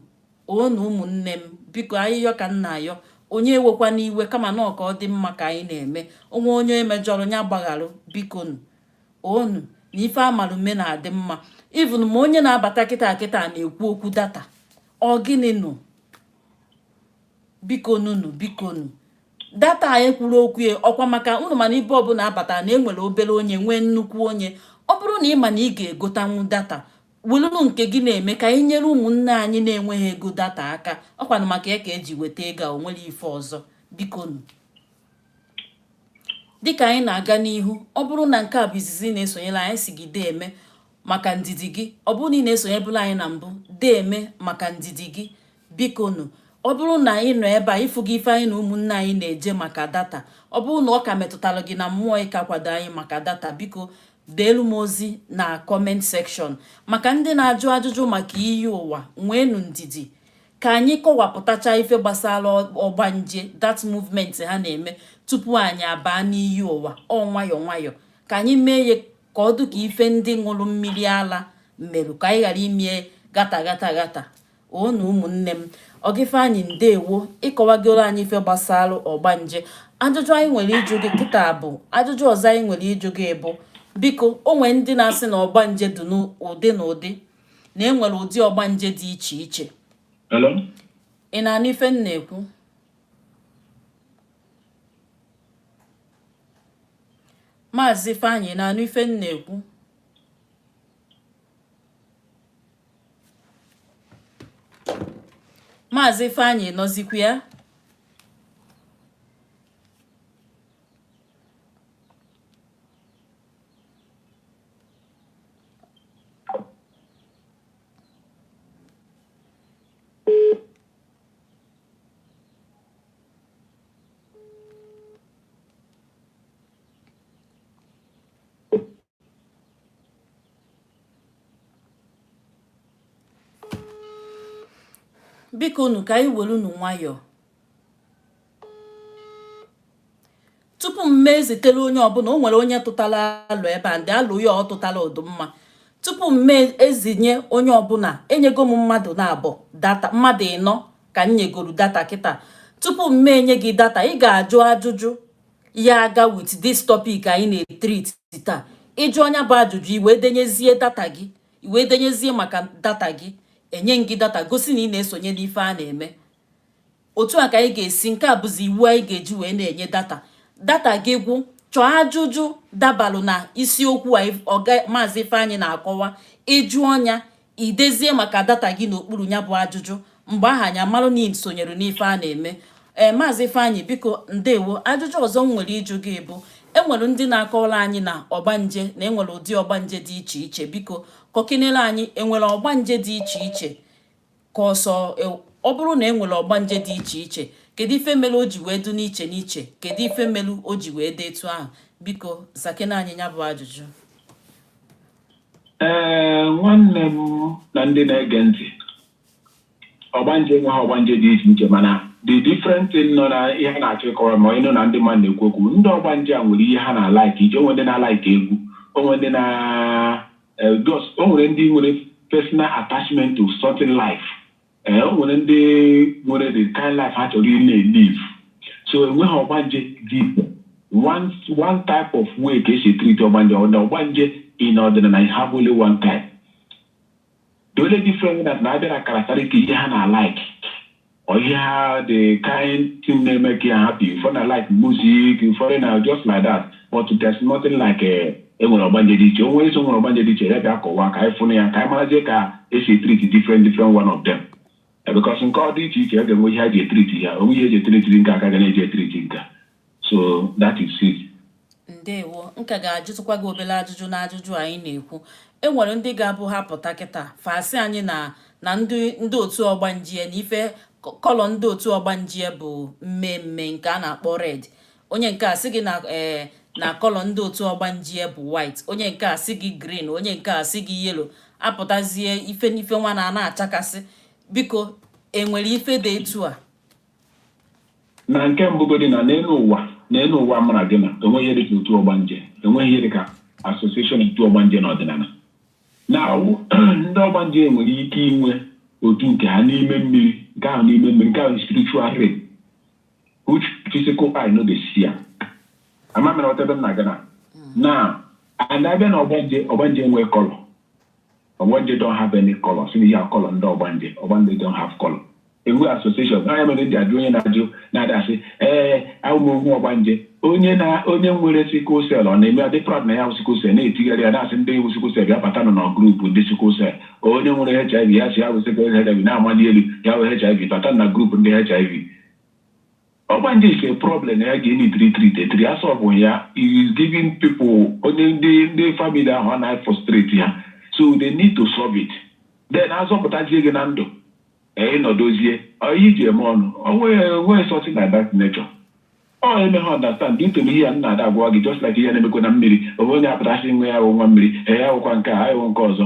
unu ụmụnne m biko ayịyọ ka m na-ayọ onye ewekwana iwe kama na ọ ka-adị mma ka anyị na-eme o nwee onye e mejọrọ ya gbagharụ biko nu unu na ife a malụ eme na-adị mma even ma onye na-abata kịta kịta na-ekwu okwu data ọ gịnị nụ biko nunu biko nu data anyị kwuru okwu ya ọ kwa maka unu mana ibe ọbụla a bata na e nwere obere onye nwee nnukwu onye ọ bụrụ na ị ma na ị ga-egotanwu data welụnụ nke gị na-eme ka anyị nyere ụmụnne anyị na-enweghị ego data aka ọkwanụ maka ya ka eji weta ego a onwere ife ọzọ bikonu dịka anyị na-aga n'ihu ọ bụrụ na nke a bụ izizi na-esonyere anyị sị gị deeme maka ndidi gị ọ bụrụ na ị na-esonyebulu anyị na mbụ deeme maka ndidi gị bikonu ọ bụrụ na anyị nọ ebe a ị fụgo ife anyị na ụmụnne anyị na-eje maka data ọ bụrụ na ọ ka metụtara gị na mmụọ ị ga-akwado anyị maka data biko deelu m ozi na comment section maka ndị na-ajụ ajụjụ maka iyi ụwa nweenu ndidi ka anyị kọwapụtacha ife gbasara ọgbanje that movement ha na-eme tupu anyị abaa n'iyi ụwa ọ nwayọ nwayọ ka anyị mee ihe ka ọ dị ka ife ndị ṅụrụ mmiri ala mere ka anyị ghara ime ya gata gata gata unu ụmụnne m Ọga Ifeanyị ndewo ị kọwagoro anyị ife gbasara ọgbanje ajụjụ anyị nwere ịjụ gị kịta bụ ajụjụ ọzọ anyị nwere ịjụ gị bụ biko o nwere ndị na-asị na ọgbanje dị n'ụdị n'ụdị na e nwere ụdị ọgbanje dị iche iche ị na-anụ ife m na-ekwu maazị Ifeanyị na-anụ ife m na-ekwu Maazị Ifeanyị nọzikwa ya bikonu ka anyị werenụ nwayọọ tupu m mee ezitere onye ọbụla o nwere onye tụtara alo ebe a ndị alo ya ọ tụtara ọ dị mma tupu m mee ezinye onye ọbụla enyego m mmadụ naabọ data mmadụ ịnọ ka m nyegoro data kịta tupu m mee enye gị data ị ga-ajụ ajụjụ ya aga with this topic anyị na-etreat taa ị jụọ nya bụ ajụjụ i wee denyezie data gị i wee denyezie maka data gị e nye gị data gosi na ị na-esonye n'ife a na-eme otu a ka anyị ga-esi nke a bụzi iwu anyị ga-eji wee na-enye data data gị gwụ chọọ ajụjụ dabalụ na isiokwu a maazị Ifeanyị na-akọwa ị jụọ nya I dezie maka data gị n'okpuru ya bụ ajụjụ, mgbe ahụ anyị amalụ na ị sonyere n'ife a na-eme. Ee, Maazị Ifeanyị, biko ndewo. Ajụjụ ọzọ m nwere ịjụ gị bụ, e nwere ndị na-akọwara anyị na ọgbanje na e nwere ụdị ọgbanje dị iche iche. Biko kọkinere anyị, e nwere ọgbanje dị iche iche ka ọ sọ e, ọ bụrụ na e nwere ọgbanje dị iche iche kedu ife mere o ji wee dị n'iche n'iche kedu ife mere o ji wee dị etu ahụ biko zakene anyị ya bụ ajụjụ ee nwanne m na ndị na-ege ntị ọgbanje enweghị ọgbanje dị iche iche mana the different thing nọ na ihe a na-achọ ịkọwa ma ị nụ na ndị mmadụ na-ekwu okwu ndị ọgbanje a nwere ihe ha na-alike ije o nwere ndị na-alike egwu o nwere ndị na eh, just o nwere ndị nwere personal attachment to certain life ee o nwere ndị nwere the kind life ha chọrọ ịna-elive so enweghị ọgbanje dị iche one one type of way ka e si etreat ọgbanje ọ na ọgbanje in ọdịnala you have only one type the only difference that na-abịa na characteristic ihe ha na-alike or ihe ha the kind thing na-emake ya happy ụfọdụ na-alike music ụfọdụ na just like that but there's nothing like a e nwere ọgbanje dị iche onye sị o nwere ọgbanje dị iche ya bịa kọwaa ka anyị fụnụ ya ka anyị marazie ka e si etreat different different one of them because nke ọ dị iche iche ọ ga-enwe ihe e ji etreat ya o nwee ihe e ji etreat nke a ka a ga na-eji etreat nke a. so that is it ndewo m ka ga-ajụtụkwa gị obere ajụjụ na ajụjụ anyị na-ekwu e nwere ndị ga-abụ ha pụta kịta fa sị anyị na na ndị ndị otu ọgbanje na ife colour ndị otu ọgbanje bụ mmee mmee nke a na-akpọ red onye nke a sị gị na ee eh, na colour ndị otu ọgbanje bụ white onye nke a sị gị green onye nke a sị gị yellow apụtazie ife n'ife nwa na na-achakasị biko e nwere ife dị etu a na nke mbụ godi na n'elu ụwa n'elu ụwa mara gị na enweghị ihe dịka otu ọgbanje enweghị ihe dịka association otu ọgbanje n'ọdịnala na ndị ọgbanje nwere ike inwe otu nke ha n'ime mmiri nke ahụ n'ime mmiri nke ahụ spiritual realm which physical eye no dey see am ama m ma ị ghọta ebe m na-aga now and abịa na ọgbanje ọgbanje nwee colour ọgbanje don't have any colour sị na ihe a colour ndị ọgbanje ọgbanje don't have colour enwe association na ya mere ndị ajụ onye na-ajụ na-adị asị ee awụ m ọgbanje onye na onye nwere sickle cell ọ na-eme adị proud na ya wụ sickle cell na-etigharị ya na-asị ndị wụ sickle cell bịa bata nọ na group ndị sickle cell onye nwere HIV ya sị ya wụ sickle HIV na-amali elu ya wụ HIV bata na group ndị HIV Ọgbanje is a problem na ya ga-eneedịrị treat e treat a solve ya it is giving people onye ndị ndị family ahụ ọ na-afrustrate ha so they need to solve it then azọpụtazie gị na ndụ ee ị nọdozie ọ ihe e ji eme ọnụ o nweghị o nweghị something like that nature ọ emeghị understand due to na ihe a m na-adị agwa gị just like ihe na-emekwa na mmiri o nwe onye apụta sị na ya wụ nwa mmiri ee ya wụkwa nke a ya wụ nke ọzọ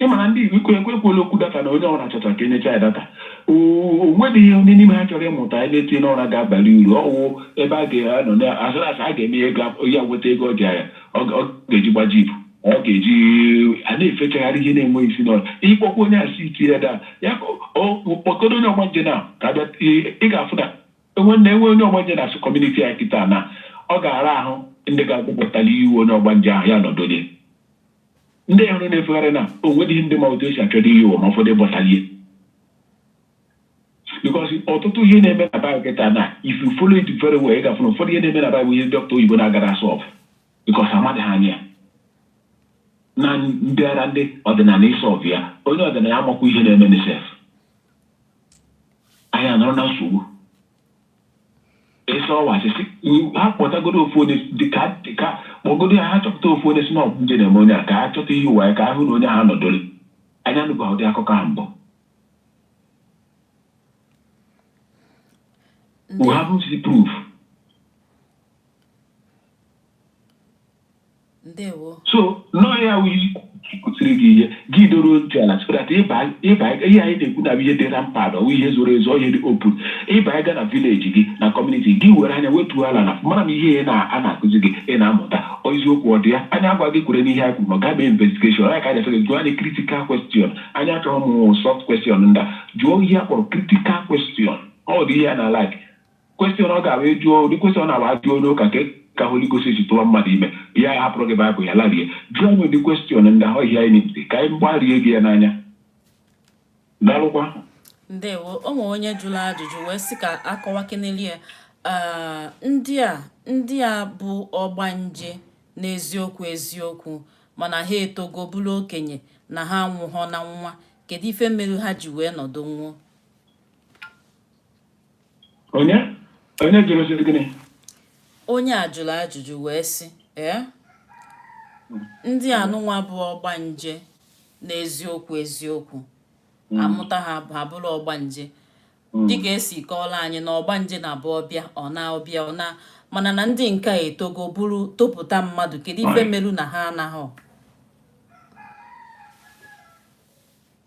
ị ma na ndị Igbo ikwe ekwe ekwuola okwu data na onye ọbụla chọchara ka enyecha ya data o nweghị onye n'ime ha chọrọ ịmụta ihe na-etinye n'ọrụ ga-abalị uru ọwụ ebe a ga-anọ na asịrị asị a ga-eme ya ego a- ya weta ego ọ ji ya ọ ga- ọ ga-eji gba jeep ọ ga-eji a na-efechagharị ihe na-enweghị isi n'ọdụ ị kpọkwa onye asị itinye da ya ka ọ- ọ- kpọkọdo onye ọgbanje na ka abịa ị- ị ga-afụ na enwe na enwe onye ọgbanje na asụ community ya kịta na ọ ga-ara ahụ ndị ga-egwupụtali iyi ụwa onye ọgbanje ahụ ya nọdonye ndị ahụ na-efegharị na o nweghị ndị ma otu esi achọta iyi ụwa ma ọ fọdụ bọtalie because ọtụtụ ihe na-eme na be anyị kịta na if you follow it very well ị ga-afụ na ụfọdụ ihe na-eme na be anyị bụ ihe dọkịta oyibo na-agara asolve because amadị ha anya ya. na ọ dịara ndị ọdịnala ịsolve ya onye ọdịnala amakwa ihe na-emenụ sef anyị anọrọ na nsogbu ị sị ọwụ asị sị ha kpọtagodo ofu onye dịka dịka kpọgodo ya ha chọpụta ofu onye sị na ọgbanje na-eme onye a ka ha chọta iyi ụwa ya ka ha hụ na onye ahụ nọdụrụ anyị anụba ụdị akụkọ ahụ mbụ we haven't seen proof ndewo so na ọ ya wụ a kụziri gị ihe gị doro ntị ala so that ịba ịba ihe anyị na-ekwu na ihe dịra mkpa na ọwụ ihe zoro ezo ihe dị open ịba ịga na village gị na community gị were anya wetuo ala na mara ma ihe na a na-akụzi gị ị na-amụta ọ eziokwu ọ dị ya anyị agwa gị kwere n'ihe anyị kwuru ma gaa mee investigation anyị ka anyị asị gị jụọ anyị critical question anyị achọghị ụmụ soft question ndị a jụọ ihe a kpọrọ critical question ọ dị ihe a na-alike Question ọ ga-abụ ị jụọ ụdị question na-abụ ajụọ onye ụka nke ka Holy Ghost si tụwa mmadụ ime ya ya hapụrụ gị Baịbụl ya larie jụọ anyị ụdị question ndị ahụ ihe anyị na-ebute ka anyị gbarie gị ya n'anya daalụkwa ndewo o nwere onye jụrụ ajụjụ wee sị ka akọwakeneli ya ndị a ndị a bụ ọgbanje n'eziokwu eziokwu mana ha etogo bụrụ okenye na ha anwụhọ na nwa kedu ife mere ha ji wee nọdụ nwụọ onye onye jụrụ sị gịnị onye a jụrụ ajụjụ wee sị ee ndị anụnwa bụ ọgbanje n'eziokwu eziokwu hmm. a mụta ha ha bụrụ ọgbanje hmm. dịka esi kọọla anyị na ọgbanje na-abụ ọ bịa ọ naa ọ bịa ọ naa mana na ndị nke a etogo bụrụ topụta mmadụ kedu ife melu na ha anaghị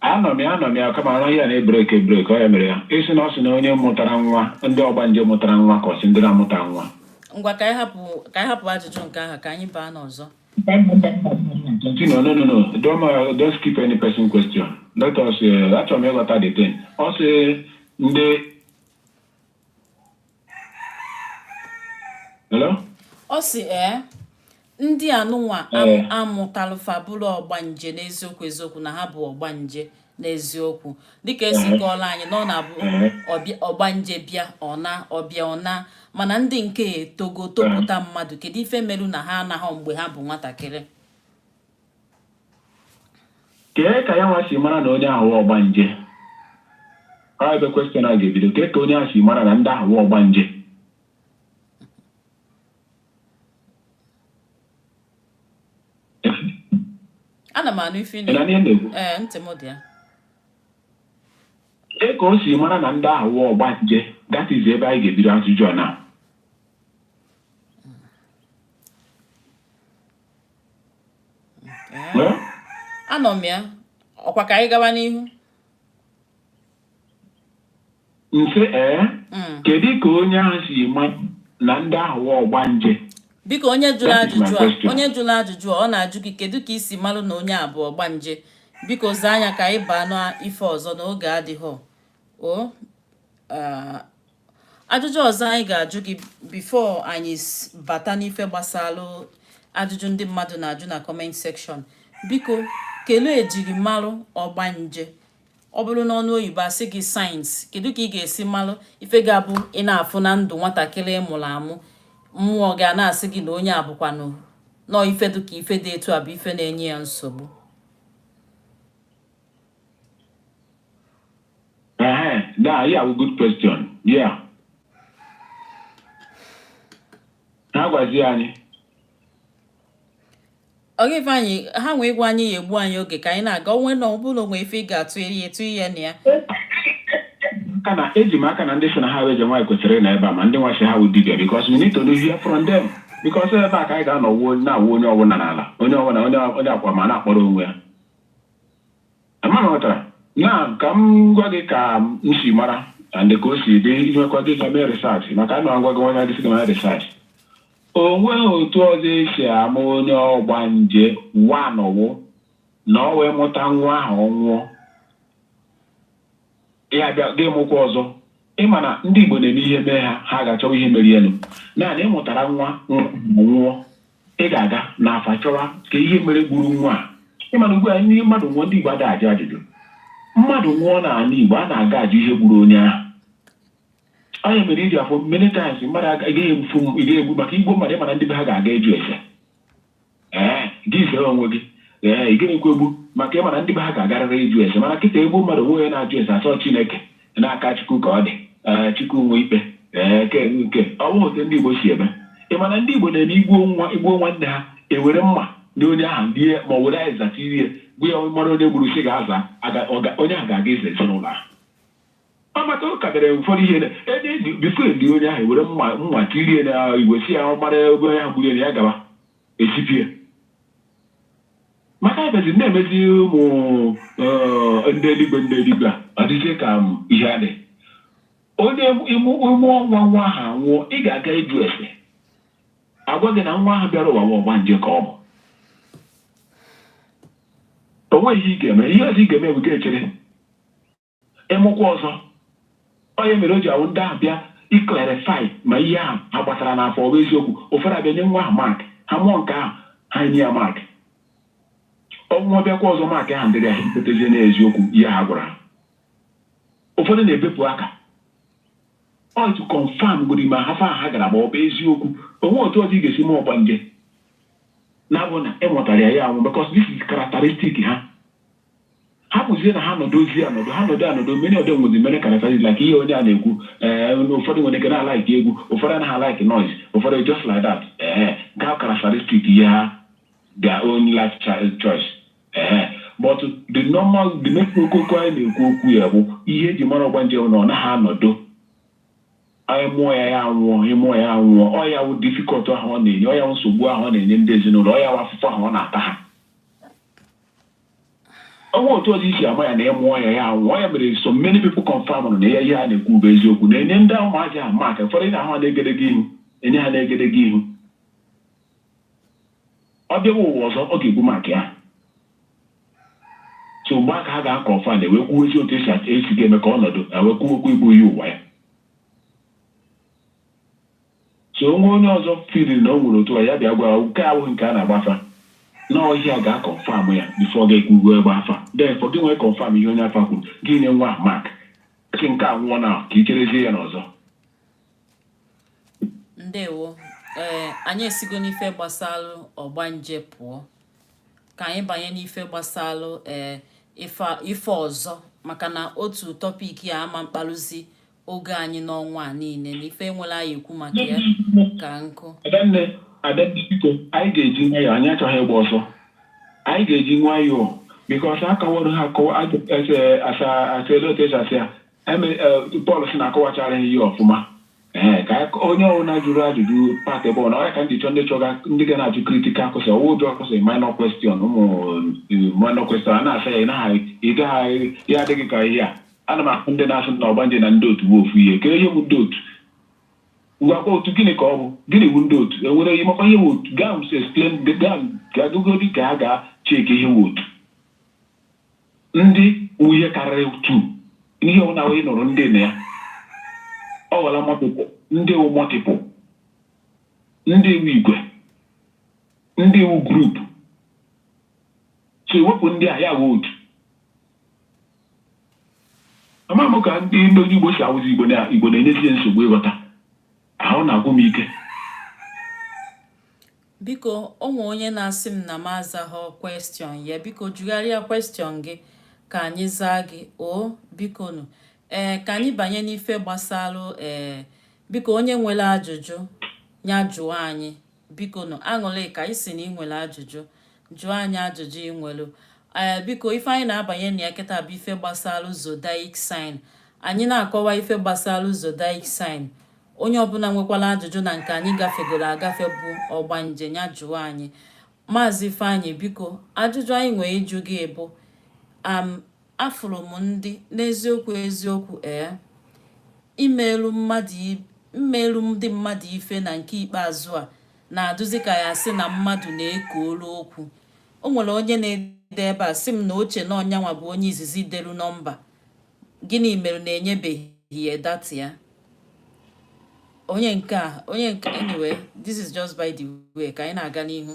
anụ m ya anụ m ya kama olu ya na-ebreak ebreak ọ ya mere ya ịsị na ọ sị na onye mụtara nwa ndị ọgbanje mụtara nwa ka ọ sị ndị na-amụtara nwa ngwa ka anyị hapụ ka anyị hapụ ajụjụ nke ahụ ka anyị baa n'ọzọ Continue. No, no, no. Don't, uh, don't skip any person question. Let us, uh, achọrọ m ịghọta the thing. Ọ sị ndị ọ sị ee ndị anụnwa a mụtalụ fa bụrụ ọgbanje n'eziokwu eziokwu na ha bụ ọgbanje n'eziokwu dịka e si kọọlụ anyị na ọ na-abụ ọgbanje bịa ọ naa ọ bịa ọ naa mana ndị nke etogo topụta mmadụ kedu ife meru na ha anaghị mgbe ha bụ nwatakịrị kee ka ya nwa si mara na onye ahụ wụ ọgbanje ọ ebe question a ga-ebido kee ka onye ahụ si mara na ndị ahụ wụ ọgbanje ana m anụ ife ị na-ekwu ee ntị m dị ya kee ka o si mara na ndị ahụ wụ ọgbanje that is ebe anyị ga-ebido ajụjụ a na anọ m ya ọkwa ka anyị gawa n'ihu mfe ee eh? hmm. kedu ka onye ahụ si ma na ndị ahụ wụ ọgbanje biko onye jụrụ ajụjụ a onye jụrụ ajụjụ a ọ na-ajụ gị kedu ka i si malụ na onye a bụ ọgbanje biko zaa anyị ka anyị baa n'ife ọzọ na oge adịghị o ah, ajụjụ ọzọ anyị ga-ajụ gị before anyị bata n'ife gbasalụ ajụjụ ndị mmadụ na-ajụ na comment section biko kelee ejirimalụ ọgbanje ọ bụrụ n'ọnụ oyibo a sị gị signs kedu ka ị ga-esi malụ ife ga-abụ ị na-afụ na ndụ nwatakịrị ị mụrụ amụ mmụọ gị a na-asị gị na onye a bụkwanụ nọọ ife dị ka ife dị etu a bụ ife na-enye ya nsogbu Ehe, da, ya wụ good question. Yeah. Ha gwazi anyị. Ọ ga-efe anyị ha nwee ịgwa anyị ya egbu anyị oge ka anyị na-aga onwe na ọbụla onwe ife ị ga-atụ eri etu ihe na ya. Kana eji m aka na ndị sị na ha wụ eze nwaanyị kwesịrị ịnọ ebe a ma ndị nwa sị ha wụ dibịa because we need to hear from them. Because ebe a ka anyị ga-anọ wuo na-awụ onye ọbụla n'ala onye ọbụla onye onye akwa ma na-akpọrọ onwe ya. Amara ghọtara. Na ka m gwa gị ka m si mara and ka o si dị i nwekwa ike ga mee research maka ana m agwa gị nwanya gị sị gị mee research. O nweghị otu ọzọ e si ama onye ọgbanje one wụ na ọ wee mụta nwa ahụ ọ nwụọ. Ya bịa gị mụkwa ọzọ. Ị ma na ndị Igbo na-eme ihe mee ha, ha ga-achọwa ihe merenụ. Naanị ị mụtara nwa nwa ma nwụọ, ị ga-aga n'afa chọwa ka ihe mere gburu nwa a. Ị ma na ugbu a ndị mmadụ nwụọ, ndị Igbo ada ajụ ajụjụ. Mmadụ nwụọ n'ala Igbo, a na-aga ajụ ihe gburu onye ahụ. Ọ ya mere i ji afụ many times mmadụ aga- ị gaghị egbu ị gaghị egbu maka i gbuo mmadụ ị ma na ndị be ha ga-aga ịjụ ese. ee gị zere onwe gị ee ị gaghị ekwegbu maka ị ma na ndị be ha ga-agarịrị ịjụ ese mana kịta e gbuo mmadụ o nwe onye na-ajụ ese a sị ọ chineke n'aka chukwu ka ọ dị ee chukwu nwe ikpe ee ke nke ọ bụghị otu ndị igbo si eme ị ma na ndị igbo na-eme i gbuo nwa i gbuo nwanne ha ewere mma na onye ahụ lie ma ọ were azịza tirie gbu ya mara onye gburu si ga-aza aga- ọ ga- onye ahụ ga-aga ịza ezinụlọ ahụ Maka ọ ka dịrị ụfọdụ ihe na ebe e ji bifo e lie onye ahụ were mma mma tirie na igbe sị ya ọ mara ebe onye ahụ gburu ya nọ ya gaba esipie maka ebezi na-emezi ụmụ eh, ndị eluigwe ndị eluigwe a ọ dịzie ka ihe adị onye ị mụ ị mụọ nwa nwa ahụ anwụọ ị ga-aga ịjụ ese agwa gị na nwa ahụ bịara ụwa nwa ọgbanje ka ọ bụ o nweghị ihe ị ga-eme ihe ọzọ ị ga-eme bụ ga-echere ịmụkwa ọzọ ọ ya mere o ji awụ ndị ahụ bịa ịclarify ma ihe ahụ ha gbatara n'afa ọ bụ eziokwu ụfọdụ abịa nye nwa ahụ mark ha mụọ nke ahụ ha nye ya mark ọ nwụọ bịakwa ọzọ mark ahụ dịrị ya ha ekwetazie n'eziokwu ihe ha gwara ha ụfọdụ na-ebepụ aka ọ to confirm godi ma afa ha gara ma ọ bụ eziokwu o nwe otu ọzọ ị ga-esi ma ọgbanje na-abụ na e nwetara ya ya anwụ because this is characteristic ha ọ bụzie na ha nọdụzie anọdụ ha nọdụ anọdụ many of them nwezi more characteristics like ihe onye a na-ekwu ee eh, ụfọdụ nwere ike na-alaiki egwu ụfọdụ anaghị alaiki noise ụfọdụ just like that ee eh, ga characteristic ihe ha their own life choice ee eh, but the normal the next koko anyị na-ekwu okwu ya bụ ihe e ji mara ọgbanje na ọ naghị anọdụ anyị mụọ ya ya anwụọ ị mụọ ya anwụọ ọ ya wụ difficult ahụ ọ na-enye ọ ya wụ nsogbu ahụ ọ na-enye ndị ezinụlọ ọ ya wụ afụfụ ahụ ọ na-ata ha o nwe otu ọzọ e si ama ya na ị mụọ ya ya anwụọ ọ ya mere so many people confirm na ya ihe a na-ekwu bụ eziokwu na-enye ndị ụmụazị ahụ mark ụfọdụ ị na-ahụ ha n'egedege ihu e nye ha n'egedege ihu ọ bịawa ụwa ọzọ ọ ga-ebu mark ya so mgbe ahụ ka ha ga-aconfirm e wee kwuzie otu e si e si ga-eme ka ọ nọdụ e wee kwuo okwu igbu iyi ụwa ya So o nwee onye ọzọ feelin na o nwere otu a, ya bịa gwa, nke a abụghị nke a na-agba afa. Na ihe a ga-aconfirm ya before gị ekwuruwe ịgba afa. Then for gị nwa ịconfirm ihe onye afa kwuru, gị nye nwa ahụ mark. Sị nke a nwụọ now, ka i cherezie ya n'ọzọ. Ndewo. Ee, anyị esigo n'ife gbasalụ ọgbanje pụọ. Ka anyị banye n'ife gbasalụ ee ife a- ife ọzọ maka na otu tọpik ya ama mkpalụzi oge anyị n'ọnwa a niile na ife enwere a ya-ekwu maka ya ka nkụ adanne adanne biko anyị ga-eji nwayọọ anyị achọghị ịgba ọsọ anyị ga-eji nwayọọ because akọwara ha akọwa asịla otu esi asị ya pọl si na akọwachara ha ihe ọfụma ee ka onye ọbụla jụrụ ajụjụ pat ebe ọ na ọya ka ndị chọ ndị chọga ndị ga na-ajụ critical question ọ wụ ajụọ question minor question ụmụ minor question a na-asa ya ị gaghị ya adịghị ka ihe a Ana m ahụ ndị na-asị na ọgbanje na ndị otu bụ ofu ihe. Kee ihe bụ ndị otu? Ngwa kọwa otu gịnị ka ọ bụ? Gịnị bụ ndị otu? Enwere ihe makwa ihe bụ otu? Gaa m explain gaa gagogodi ka ha gaa check ihe bụ otu. Ndị wụ ihe karịrị two. Ihe ọwụna ị nụrụ ndị na ya. Ọ ghọla multiple. Ndị wụ multiple. Ndị wụ igwe. Ndị wụ group. So i wepụ ndị a ya wụ otu. ama m ka ndị ndị onye Igbo si awụzi Igbo na Igbo na-enyezie nsogbu ịghọta ahụ na-agwụ m ike biko o nwee onye na-asị m na m azaghọ question ya biko jụgharịa question gị ka anyị zaa gị o bikonu ee eh, ka anyị banye n'ife gbasalụ ee eh, biko onye nwere ajụjụ ya jụọ anyị biko nụ Aṅụlịka ị sị na ị nwere ajụjụ jụọ anyị ajụjụ ị nwere ee eh, biko ife anyị na-abanye na ya kịta bụ ife gbasalụ zodiac sign anyị na-akọwa ife gbasalụ zodiac sign onye ọbụla nwekwalụ ajụjụ na nke anyị gafegoro agafe bụ ọgbanje ya jụọ anyị maazị Ifeanyị biko ajụjụ anyị nwee ịjụ gị bụ Afụrụ m ndị n'eziokwu eziokwu ee i meelu ndị mmadụ ife na nke ikpeazụ a na-adụzi ka ya sị na mmadụ na-eko olu okwu o nwere onye na-ede ebe a sị m na o che na ọ yanwa bụ onye izizi delu nọmba gịnị mere na enyebeghị ya data ya onye nke a onye nke anyway this is just by the way ka anyị na-aga n'ihu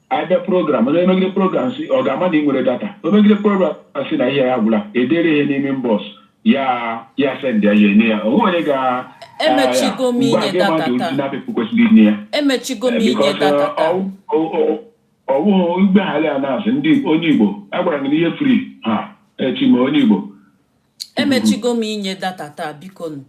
abịa program onye megide program sị ọ ga-ama na ị nwere data o megide program sị na ihe ya agwụla edere ihe n'ime inbox ya ya send ya ya enye ya o nwe onye ga Emechigo m inye mgbe a ga-ema data dị taa. otu na-apịpụ kwesịrị inye ya emechigo m inye Because, data uh, taa ọ- ọ- ọ- ọ bụghị mgbaghara ya na-asị ndị onye Igbo agwara gị na ihe free ha echi ma onye Igbo emechigo m inye data taa biko nụ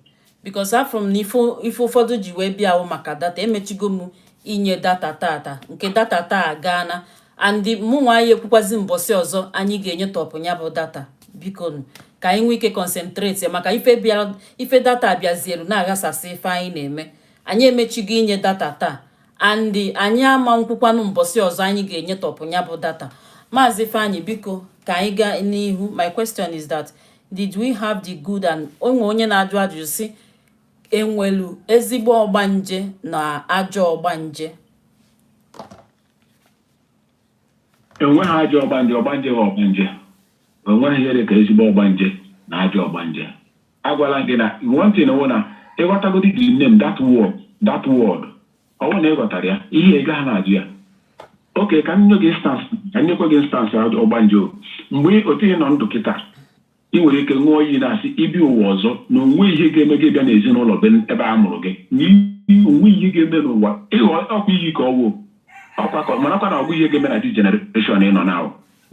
because afụ m na ife ife ụfọdụ ji wee bịa wụ maka data emechigo m inye data tata nke data taa gaana and mụ nwa ya-ekwukwazi mbọsị ọzọ anyị ga-enyetụpụ ya bụ data biko nụ ka anyị nwee ike concentrate maka ife bịara ife data bịazielu na-aghasasị ife anyị na-eme anyị emechigo inye data taa and anyị ama nkwukwanụ mbọsị ọzọ anyị ga-enyetọpụ ya bụ data maazị Ifeanyi biko ka anyị gaa n'ihu my question is that did we have the good and o nwe onye na-ajụ ajụjụ sị e nwelu ezigbo ọgbanje na ajọ ọgbanje enweghị ajọ ọgbanje ọgbanje wụ ọgbanje enweghị ihe dị ka ezigbo ọgbanje na ajọ ọgbanje Agwala m gị na one thing wụ na ị ghọtagodi the name that word that word ọ bụrụ na ị ghọtara ya ihe ị gaghị na-ajụ ya okay ka m nye gị instance ka m nyekwa gị instance a- ọgbanje o. mgbe otu ị nọ ndụ kịta ị nwere ike ṅụọ iyi na-asị ị bịa ụwa ọzọ na o nwe ihe ga-eme gị bịa n'ezinụlọ be ebe a mụrụ gị na iyi- o nwe ihe ga-eme n'ụwa ịghọ ọ kwa iyi ka ọ wụ ọkwa ka marakwa na ọ bụ ihe ga-eme na the generation ị nọ na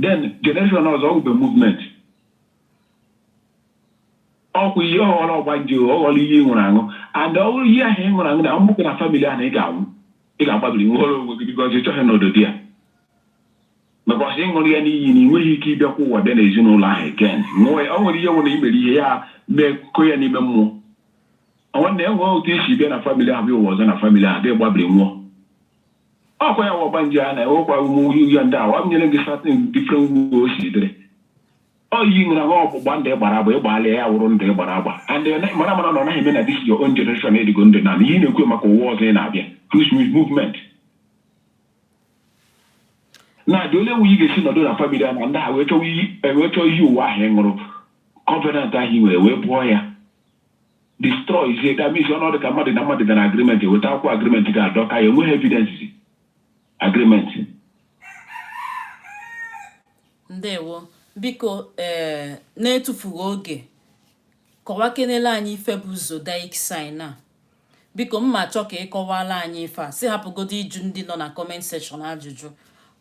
then generation ọzọ ọ wụbe movement ọ kwa ihe ọ ghọrọ ọgbanje ọ ghọrọ iyi ị ṅụrụ aṅụ and ọ bụrụ iyi ahụ ị ṅụrụ aṅụ na ahụ nwoke na family ahụ na ị ga-anwụ ị ga-agbabiri nwere onwe gị because ị chọghị n'odo di ya because ị ṅụrụ ya n'iyi na ị nweghị ike ịbịakwa ụwa bịa n'ezinụlọ ahụ again nwụọ ya o nwere ihe nwere imere ihe ya mee kụkọ ya n'ime mmụọ nwanne enwe otu i si bịa na family ahụ bịa ụwa ọzọ na family ahụ bịa gbabiri nwụọ ọ kwa ya wụ ọgbanje a na-ewekwa ụmụ ya ndị a wa m nyere gị certain different way o si dịrị Ọ iyi ị ṅụrụ aṅụ ọgbụgba ndụ ị gbara agba ị gbaala ya wụrụ ndụ ị gbara agba and eh, na- mara mara na ọ naghị eme na this your own generation edigo ndụ na ihe ị na-ekwu maka ụwa ọzọ ị na-abịa which means movement na the only way ị ga-esi nọdụ na family a na ndị a wee chọwa iyi eh, wee chọọ iyi ụwa ahụ ị ṅụrụ covenant ahụ ị nwere wepụ ya destroyzie that means ọnọdụ ka mmadụ na mmadụ gbara agreement weta akwụkwọ agreement ga-adọka ya enweghị evidence agreement ndewo biko ee eh, na-etufughị oge kọwakenele anyị ife bụ zodiac sign a biko mma chọọ ka ị kọwala anyị ife a sị hapụgodo ịjụ ndị nọ na comment section ajụjụ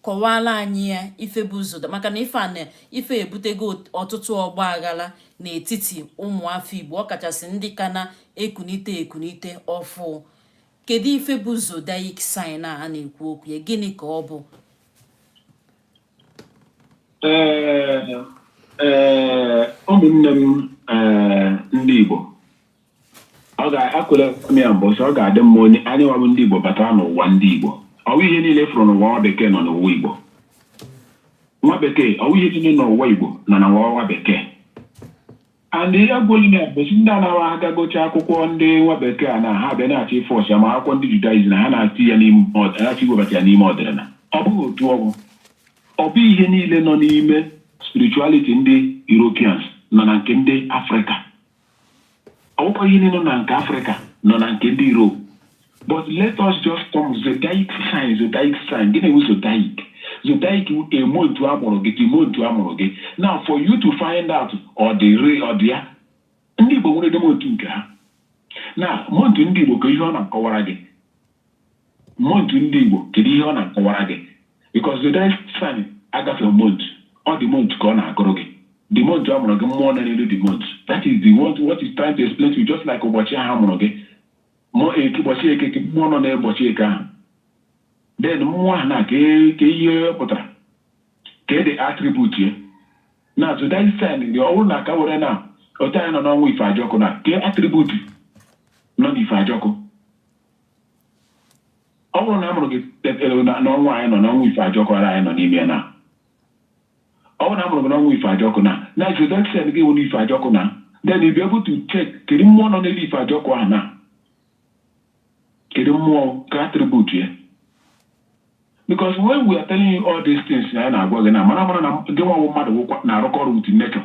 kọwala anyị ya ife bụ zodiac maka na ife a na ife ebutego ọtụtụ ọgba aghara n'etiti ụmụafọ Igbo ọkachasị ndị ka na-ekunite ekunite ọfụ kedu ife bụ zodiac sign a na-ekwu okwu ya gịnị ka ọ bụ ụmụnne m ndị Igbo ọ ga-akwere m ya mbụ sị ọ ga-adị mma onye anyị nwa bụ ndị Igbo batara n'ụwa ndị Igbo ọ wụ ihe niile ị fụrụ n'ụwa nwa bekee nọ n'ụwa Igbo nwa bekee ọ wụ ihe niile n'ụwa Igbo nọ na nwa bekee and ihe gwụrụ na ebosi ndị anaghị agagocha akwụkwọ ndị nwa bekee a na ha bịa na-achọ ị force ya ma akwụkwọ ndị Judaism na ha na-achị ya n'ime achọ iwebata ya n'ime ọdịnala ọ bụghị otu ọ wụ ọ bụ ihe niile nọ n'ime spirituality ndị Europeans nọ na nke ndị Afrịka ọ bụkwa ihe niile nọ na nke Afrịka nọ na nke ndị Europe but let us just come zodiac sign zodiac sign gịnị bụ zodiac zodiac the month a mụrụ gị the month a mụrụ gị now for you to find out ọ dị re ọ dị ya ndị igbo nwere the month nke ha na month ndị igbo kee ihe ọ na-akọwara gị month ndị igbo kedu ihe ọ na-akọwara gị because zodiac sign agafe month ọ the month ka ọ na-agụrụ gị the month a mụrụ gị mmụọ nọ n'elu the month that is the what, what is trying to explain to you just like ụbọchị ahụ a mụrụ gị mọ eke ụbọchị eke kee mmụọ nọ n'ụbọchị eke ahụ then mmụọ ahụ na ka kee ihe pụtara kee the attribute ya na zodiac sign dị ọ bụrụ na ka were na otu anyị nọ n'ọnwa ife ajọkụ na kee attribute nọ n'ife ajọkụ ọ bụrụ na a mụrụ gị tetere na- n'ọnwa anyị nọ n'ọnwa ife ajọkụ ara anyị nọ n'ime ya na Ọ bụrụ na a mụrụ gị n'ọnwa ife ajọkụ na na zodiac sign gị nwere ife ajọkụ na then you be able to check kedu mmụọ nọ n'elu ife ajọkụ ahụ na kedu mmụọ kee attribute ya because when we are telling you all these things na anyị na-agwa gị na mara mara na gị nwa bụ mmadụ na-arụkọ ọrụ with nature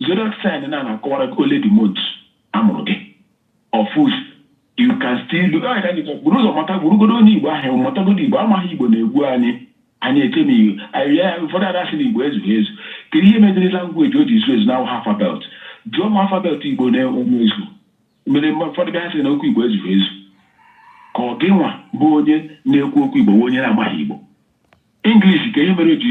Zodiac sign na na-akọwara gị ole the month a mụrụ gị. Of which you can still do anyị ka anyị ga- buru ụzọ mata burugodo onye Igbo ahụ matagodo Igbo amaghị Igbo na-egbu anyị anyị echemi Igbo anyị ya ụfọdụ ada sị na Igbo ezughị ezu kedu ihe meziri language o ji zu ezu na awụha alphabet jụọ ma alphabet Igbo na-enwe ezu mere mgbe ụfọdụ bịa sị na okwu Igbo ezughị ezu ka ọ gị nwa bụ onye na-ekwu okwu Igbo bụ onye na-amaghị Igbo English kee ihe mere o ji